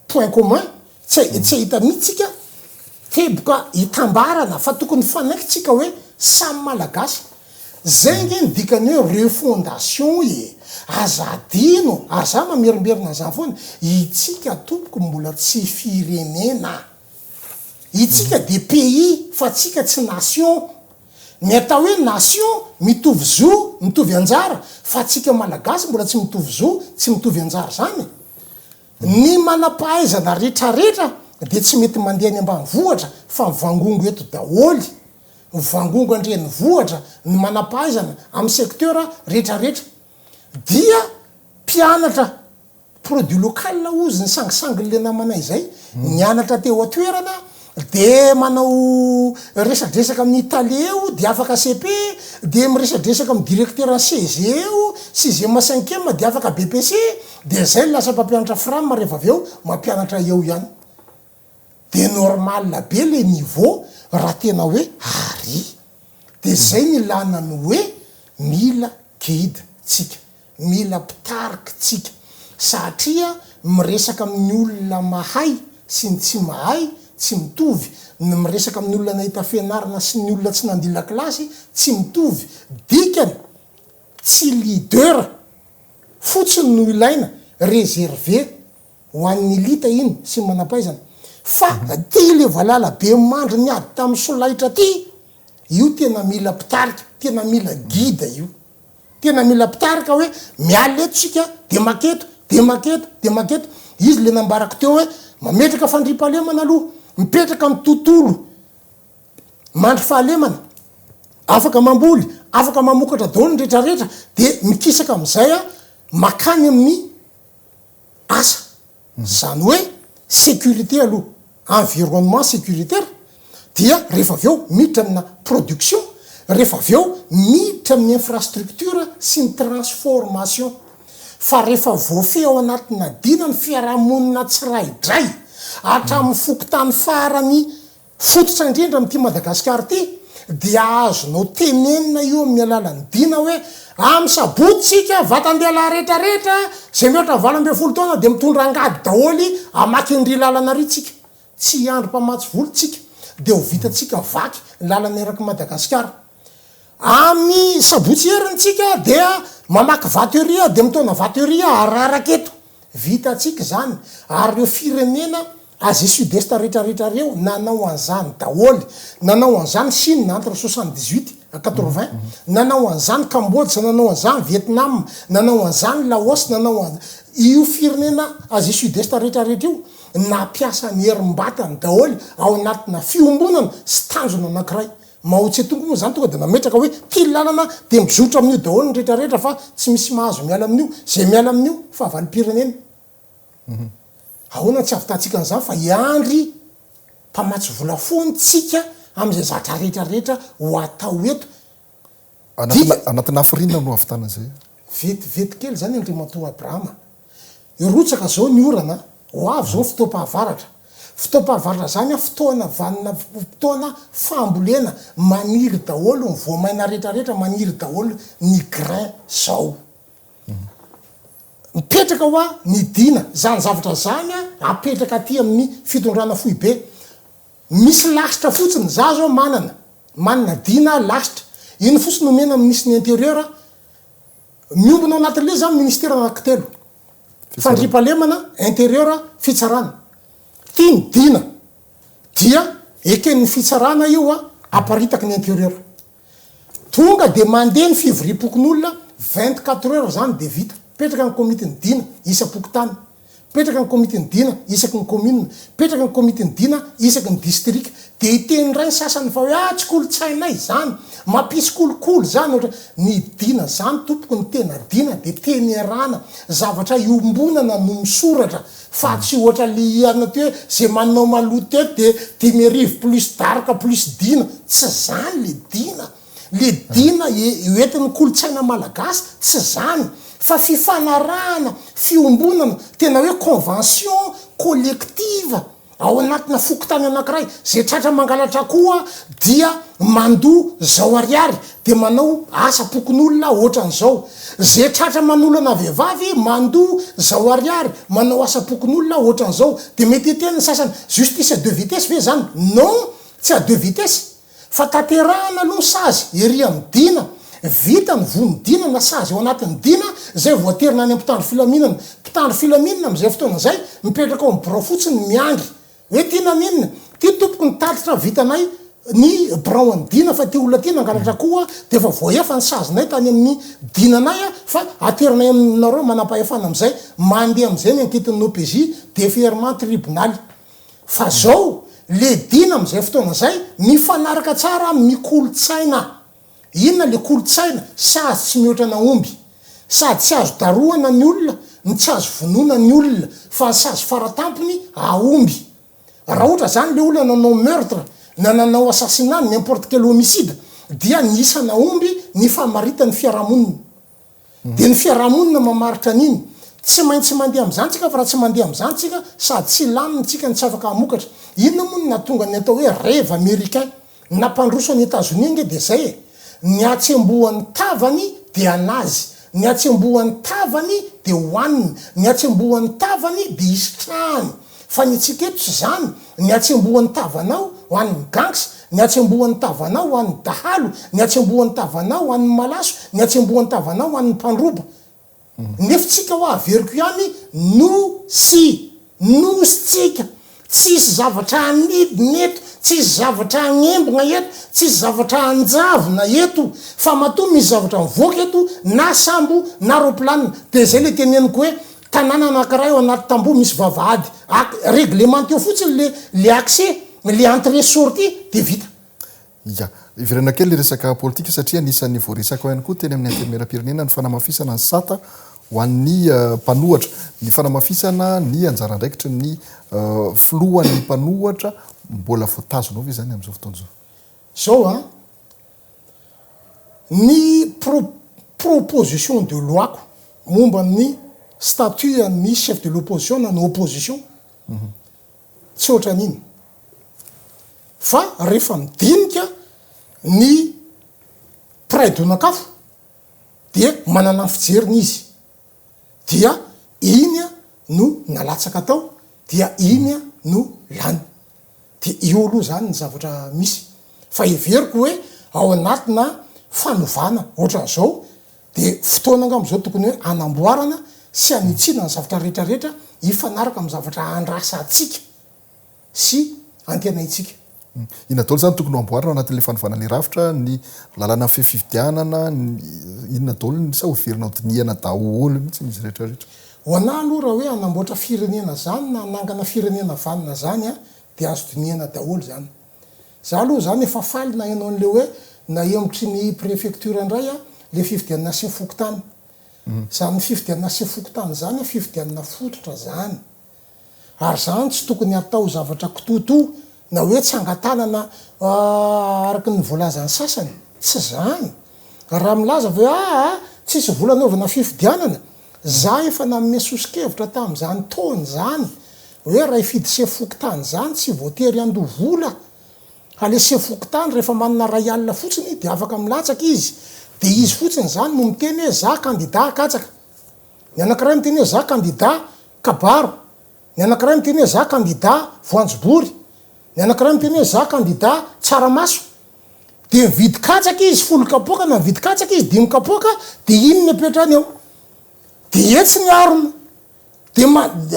point commun, tsy tsy hahita mihitsy tsika teboka hitambarana fa tokony hifanaiky tsika hoe samy Malagasy Zay nge ny dikany hoe refondation e! Aza adino ary za mamerimberina an'izany foana, itsika tompoko mbola tsy firenena. Itsika dia pays fa tsika tsy nation. Ny atao hoe nation mitovy zo, mitovy anjara fa tsika malagasy mbola tsy mitovy zo, tsy mitovy anjara zany. Ny manampahaizana retraretra dia tsy mety mandeha any ambanivohitra fa mivangongo eto daholy. vangongan drenivohitra ny manampahaizana amin'ny secteur retraretra dia mpianatra produit local ozy ny sangisangin'le namanay zay nianatra teo atoerana de manao resadresaka amin'ny tale eo de afaka cepe de miresadresaka amin'ny directeur ny CEG eo sixième à cinquième de afaka BEPC de zay lasa mpampianatra fram rehefa avy eo mampianatra eo ihany Dia normal be le niveau raha tena hoe Arry. Dia zay ny ilana ny hoe mila guide tsika, mila mpitarika tsika satria miresaka amin'ny olona mahay sy ny tsy mahay tsy mitovy, ny miresaka amin'ny olona nahita fianarana sy ny olona tsy nandila kilasy tsy mitovy, dikany tsy leader fotsiny no ilaina, reserver ho an'ny elita iny sy ny manampaizana fa ty le valala be mandry niady tamin'ny solaitra ty io tena mila mpitarika tena mila guide io tena mila mpitarika hoe miala eto sika de maketo de maketo de maketo izy le nambarako teo hoe mametraka fandriampahalemana aloha mipetraka ny tontolo mandry fahalemana afaka mamboly afaka mamokatra daolo ny retraretra de mikisaka amizay a makany amin'ny asa. Izany hoe sécurité aloha, environnement sécuritaire, dia rehefa avy eo miditra amina production, rehefa avy eo miditra amin'ny infrastructure sy ny transformation. Fa rehefa voafehy ao anatin'adinany fiarahamonina tsiraidray, hatramin'ny fokontany farany Fototra indrindra amin'ity Madagasikara ity dia azonao tenenina io amin'ny alalan'ny dina hoe amin'ny sabotsy isika vatan-dehilahy rehetra rehetra izay mihoatra valo ambin'ny folo taona dia mitondra angady daholo hamaky ny ry lalana ry tsika tsy hiandry mpamatsy vola tsika dia ho vitantsika vaky ny lalana erak'i Madagasikara amin'ny sabotsy heriny tsika dia mamaky vato ery dia mitaona vato ery hararaka eto Vitantsika izany, ary ireo firenena Asie Sud Est retraretra ireo nanao an'izany daholo. Nanao an'izany Chine entre soixante dix huit and quatre vingt, nanao an'izany Cambodge, nanao an'izany Vietnam, nanao an'izany Laos, nanao an io firenena Asie Sud Est retraretra io nampiasa ny herim-batany daholo ao anatina fiombonana sy tanjona anankiray. Mao tse tung moa zany tonga de nametraka hoe ty lalana de mizotro amin'io daholo ny rehetra rehetra fa tsy misy mahazo miala amin'io ze miala amin'io fahavalom-pirenena ahoana tsy avitatsika an'izany fa hiandry mpamatsy vola foan tsika amin'izay zatra rehetra rehetra ho atao eto Anatina anatina hafiriana no hahavitana izay. Vetivety kely izany Andriamatoa Abrahama. Hirotsaka izao ny orana, ho avy izao ny fotoam-pahavaratra. Fotoam-pahavaratra izany an, fotoana vanona, fotoana fambolena, maniry daholo ny voamaina rehetra rehetra, maniry daholo ny grain izao. Mipetraka hoa ny dina, izany zavatra izany an, apetraka aty amin'ny fitondrana foibe. Misy lasitra fotsiny, za zao manana, manana dina aho lasitra, iny fotsiny omena minisitry ny intérieur, miombona ao anatin'le zany ministera anaky telo, fandriampahalemana, intérieur, fitsarana, ty ny dina dia eken'ny fitsarana io aparitaky ny intérieur. Tonga dia mandeha ny fivoriam-pokonolona, vingt quatre heures izany dia vita. Mipetraka ny komitin'ny Dina isam-pokontany. Mipetraka ny komitin'ny Dina isaky ny commune. Mipetraka ny komitin'ny Dina isaky ny distrika. Dia hiteny indray ny sasany fa hoe ah tsy kolontsainay izany, mampisy kolikoly izany ohatra. Ny Dina izany tompoko, ny tena Dina dia teny iarahana, zavatra iombonana no misoratra Fa tsy ohatra le hiana teo hoe ze manao maloto teto de dimy arivo plus daroka plus dina, tsy zany le dina. Le dina hoentin'ny kolontsaina malagasy tsy zany fa fifanarahana, fiombonana, tena hoe convention collective ao anatina fokontany anakiray, ze tratra mangalatra akoho dia mandoa zao ariary, Dia manao asa pokonolona aho ohatran'izao. Ze tratra manolana vehivavy mandoa zao ariary, manao asa pokonolona aho ohatran'izao. Dia mety hiten'ny sasany, justice à deux vitesses ve zany? Non! Tsy à deux vitesses! Fa tanterahana aloha ny sazy ery amin'ny dina, vita ny voa ny dina na sazy ao anatin'ny dina zay vao aterina any amin'ny mpitandro filaminana. Mpitandro filaminana amin'izay fotoana izay mipetraka ao amin'ny birao fotsiny miandry. Hoe ty naninona? Ty tompoko ny tatitra vitanay ny birao an'i Dina fa ty olona ty nangalatra koa dia efa voahefa ny sazinay tany amin'ny Dinanay fa ateranay aminareo manampahefana amin'izay mandeha amin'izay ny ankitin'ny OPJ, Deferment Tribonaly. Fa zao le Dina amin'izay fotoana zay mifanaraka tsara amin'ny kolontsaina. Inona le kolontsaina sazy tsy mihoatra ana omby sady tsy azo darohana ny olona no tsy azo vonoina ny olona fa ny sazy faratampony aomby raha ohatra zany le olona nanao meurtre na nanao assassinat n'importe quel homicide dia ny isana omby ny famaritany fiarahamonina Dia ny fiarahamonina mamaritra an'iny. Tsy maintsy mandeha amin'izany tsika fa raha tsy mandeha amin'izany tsika sady tsy hilamina tsika no tsy afaka hamokatra. Inona moa no nahatonga ny atao hoe rêve americain? Nampandroso an'i Etazonia ange dia izay e! Ny hatsembohan'ny tavany dia anazy, ny hatsembohan'ny tavany dia hohaniny, ny hatsembohan'ny tavany dia hisitrahany. Fa ny antsika eto tsy izany, ny hatsembohan'ny tavanao ho an'ny gangs, ny hatsembohan'ny tavanao ho an'ny dahalo, ny hatsembohan'ny tavanao ho an'ny malaso, ny hatsembohan'ny tavanao ho an'ny mpandroba. Ny hefintsika hoa averiko ihany, Nosy! Nosy tsika! Tsisy zavatra hanidina eto, tsisy zavatra hagnembona eto, tsisy zavatra hanjavona eto. Fa matoa misy zavatra mivoaka eto, na sambo, na roplanina, dia izay ilay teneniko hoe, Tanàna anankiray ao anaty tamboho misy vavahady ac reglemente eo fotsiny le le accès, le entrée sortie de vita. Ia. Iverenako kely ny resaka politika satria anisan'ny voaresaka ihany koa teny amin'ny Antenimierampirenena ny fanamafisana ny sata ho an'ny mpanohatra, ny fanamafisana ny anjara andraikitry ny filohan'ny mpanohatra mbola voatazona ao ve izany amin'izao fotoana izao? Izao an! Ny proposition de loi-ko momba ny statut an'ny chef de l'opposition na ny opposition, tsy ohatran'iny. Fa rehefa midinika ny mpiray donak'afo dia manana ny fijeriny izy. dia iny no nalatsaka tao dia iny no lany dia io aloha zany ny zavatra misy fa heveriko hoe ao anatina fanovana ohatran'izao dia fotoana angamba izao tokony hoe anamboarana sy anitsiana ny zavatra rehetra rehetra hifanaraka amin'ny zavatra andrasantsika. sy antenaintsika. Inona daholo izany no tokony ho amboarina ao anatin'ilay fanovana ilay rafitra, ny lalana mifehy fifidianana, inona daholo ny, sa hoverina ho dinihana daholo mihitsy izy rehetra rehetra? Ho anah aloha raha hoe hanamboatra firenena izany na hanangana firenena vanona izany an, dia azo dinihana daholo izany. Izaho aloha izany efa faly naheno an'ilay hoe nahemotry ny prefecture indray an, ilay fifidianana sefo fokontany. Izany fifidianana sefo fokontany izany an, fifidianana fototra izany. Ary izany tsy tokony hatao zavatra kitoatoa na hoe tsangan-tanana araka ny voalazan'ny sasany. Tsy izany. Raha milaza ve hoe aa tsisy vola anaovana fifidianana? Za efa nanome soso-kevitra tamin'izany tony izany hoe raha hifidy sefo fokontany izany tsy voatery handoa vola fa le sefo fokontany rehefa manana iray alina fotsiny dia afaka milatsaka izy dia izy fotsiny izany no miteny hoe za kandida katsaka. Ny anankiray miteny hoe za kandida Kabaro, Ny anankiray miteny hoe za kandida voanjobory, ny anankiray miteny hoe za kandida tsaramaso. Dia mividy katsaka izy folo kapoaka na mividy katsaka izy dimy kapoaka dia iny ny apetrany eo. Dia etsy ny harona. Dia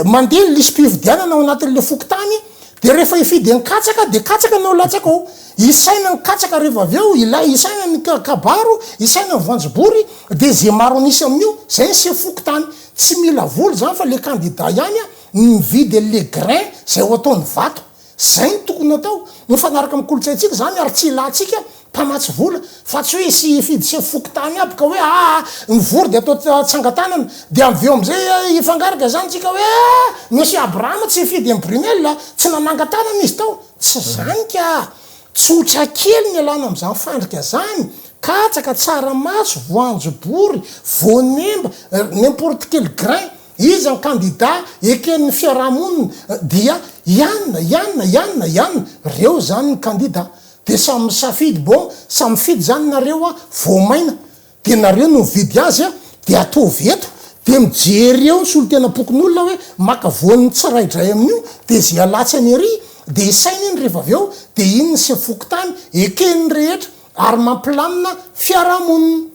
mandeha ny lisi-pifidianana ao anatin'ilay fokontany dia rehefa hifidy an-katsaka dia katsaka no latsaka ao. Isaina ny katsaka rehefa avy eo, ilay isaina ny kabaro, isaina ny voanjobory dia izay maro an'isa amin'io, izay ny sefo fokontany. Tsy mila vola zany fa le candidat ihany a ny mividy an le grain zay ho ataony vato. Zay no tokony atao. Mifanaraka am kolotsaintsika zany ary tsy ilantsika mpamatsy vola. Fa tsy hoe hisy hifidy sefo fokontany aby ka hoe aa mivory de atao tsangatanana. De aveo amzay a hifangarika zany tsika hoe aa monsieur Abraham tsy hifidy imbrunel a tsy nanangatanana izy tao. Tsy zany ka. Tsotra kely ny ialana amin'izany fandrika izany, katsaka, tsaramaso, voanjobory, voanemba, n'importe quel grain, iza ny kandida eken'ny fiarahamonina dia ianona, ianona, ianona, ianona, reo izany ny kandida, dia samy misafidy, bon, samy mifidy izany nareo a, voamaina, de nareo no mividy azy a de ataovy eto de mijery eo ny solotenam-pokonolona hoe maka voan'ny tsiraidray amin'io de ze alatsany ery de isaina iny rehefa avy eo de iny ny sefo fokontany ekeny ny rehetra ary mampilamina fiarahamonina.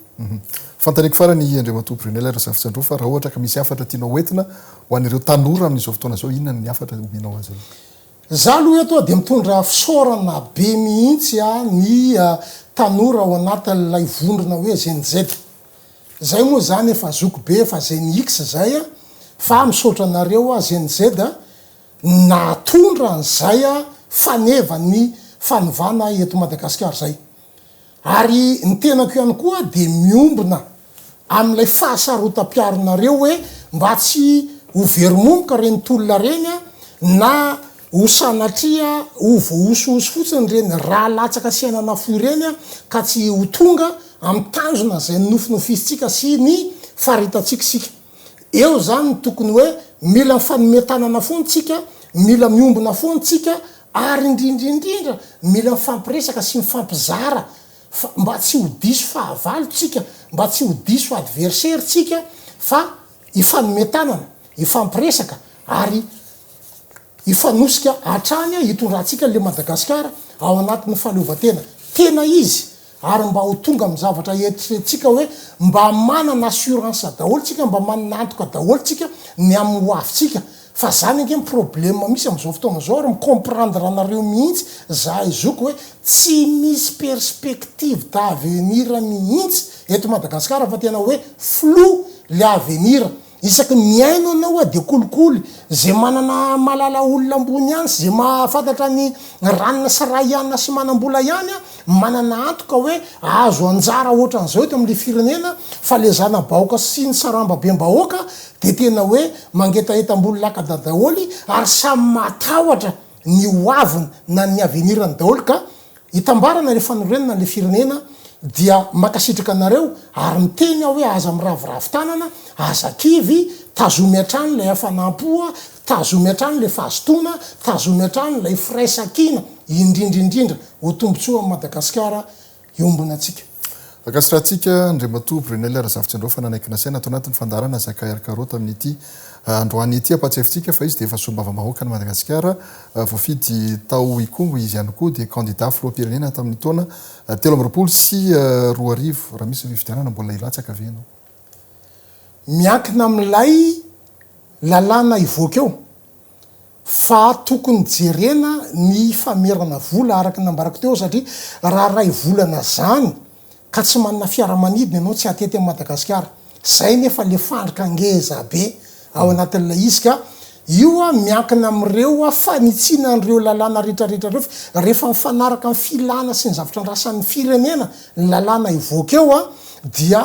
Fantariko farany i Andriamatoa Brunelle Razafintsandrao fa raha ohatra ka misy hafatra tianao hoentina ho an'ireo tanora amin'izao fotoana izao inona ny hafatra omenao azy ireo? Za aloha eto dia mitondra fisaorana be mihitsy ny tanora ao anatin'ilay vondrona hoe Gen Z. Zay moa zany efa zoky be efa Gen X zay fa misaotra anareo Gen Z nahatondra an'izay faneva ny fanovana eto Madagasikara izay. Ary ny tenako ihany koa dia miombona amin'ilay fahasarotam-piaronareo hoe mba tsy ho very momoka ireny tolona ireny an, na ho sanatria ho voahosihosy fotsiny ireny ra latsaka sy aina nafoy ireny an, ka tsy ho tonga amin'ny tanjona izay nonofinofisintsika sy ny faritantsika isika. Eo izany ny tokony hoe mila mifanome tanana foana tsika, mila miombona foana tsika ary indrindra indrindra mila mifampiresaka sy mifampizara fa mba tsy ho diso fahavalo tsika, mba tsy ho diso adversaire tsika fa hifanome tanana, hifampiresaka ary Hifanosika hatrany hitondrantsika an'ilay Madagasikara ao anatin'ny fahaleovantena tena izy ary mba ho tonga amin'ny zavatra eritreretintsika hoe mba manana assurance daholo tsika, mba manana antoka daholo tsika ny amin'ny ho avintsika. Fa zany ange ny problème misy amin'izao fotoana izao ary mi-comprendre anareo mihitsy zahay zoky hoe tsy misy perspective d'avenir mihitsy eto Madagasikara fa tena hoe flou le avenir. Isaky ny mihaino anao aho dia kolikoly ze manana malala olona ambony ihany sy ze mahafantatra ny ranona sy rahiana sy manambola ihany a manana antoka hoe ahazo anjara ohatran'izao eto amle firenena fa le zanabahoka sy ny sarambabem-bahoaka dia tena hoe mangetaheta ambony lakada daholy ary samy matahotra ny hoaviny na ny avenirany daholy ka Hitambarana ilay fanorenana an'ilay firenena dia mankasitraka anareo ary miteny aho hoe aza miraviravy tanana, aza kivy, tazomy hatrany ilay hafanam-po, tazomy hatrany ilay fahazotoana, tazomy hatrany ilay firaisankina, indrindra indrindra. Ho tombontsoa an'i Madagasikara iombonantsika. Ankasitrahantsika Andriamatoa Brunelle Razafintsindrao fa nanaiky nasaina ato anatin'ny fandaharana Zakay ary Karaoty amin'ity androany ity. Ampahatsiavintsika fa izy dia efa Solombavambahoakan'i Madagasikara voafidy tao Ikongo. Izy ihany koa dia kandida filoham-pirenena tamin'ny taona telo amby roapolo sy roa arivo. Raha misy fifidianana mbola hilatsaka ve ianao? Miankina amin'ilay lalàna hivoaka eo. fa tokony jerena ny famerana vola araka ny nambarako teo satria raha iray volana zany ka tsy manana fiaramanidina ianao tsy hatety an'i Madagasikara zay nefa le fandrika ngeza be ao anatin'ilay izy ka io miankina amin'ireo fanitsiana an'ireo lalàna retraretra ireo fa rehefa mifanaraka amin'ny filana sy ny zavatra andrasan'ny firenena ny lalàna hivoaka eo dia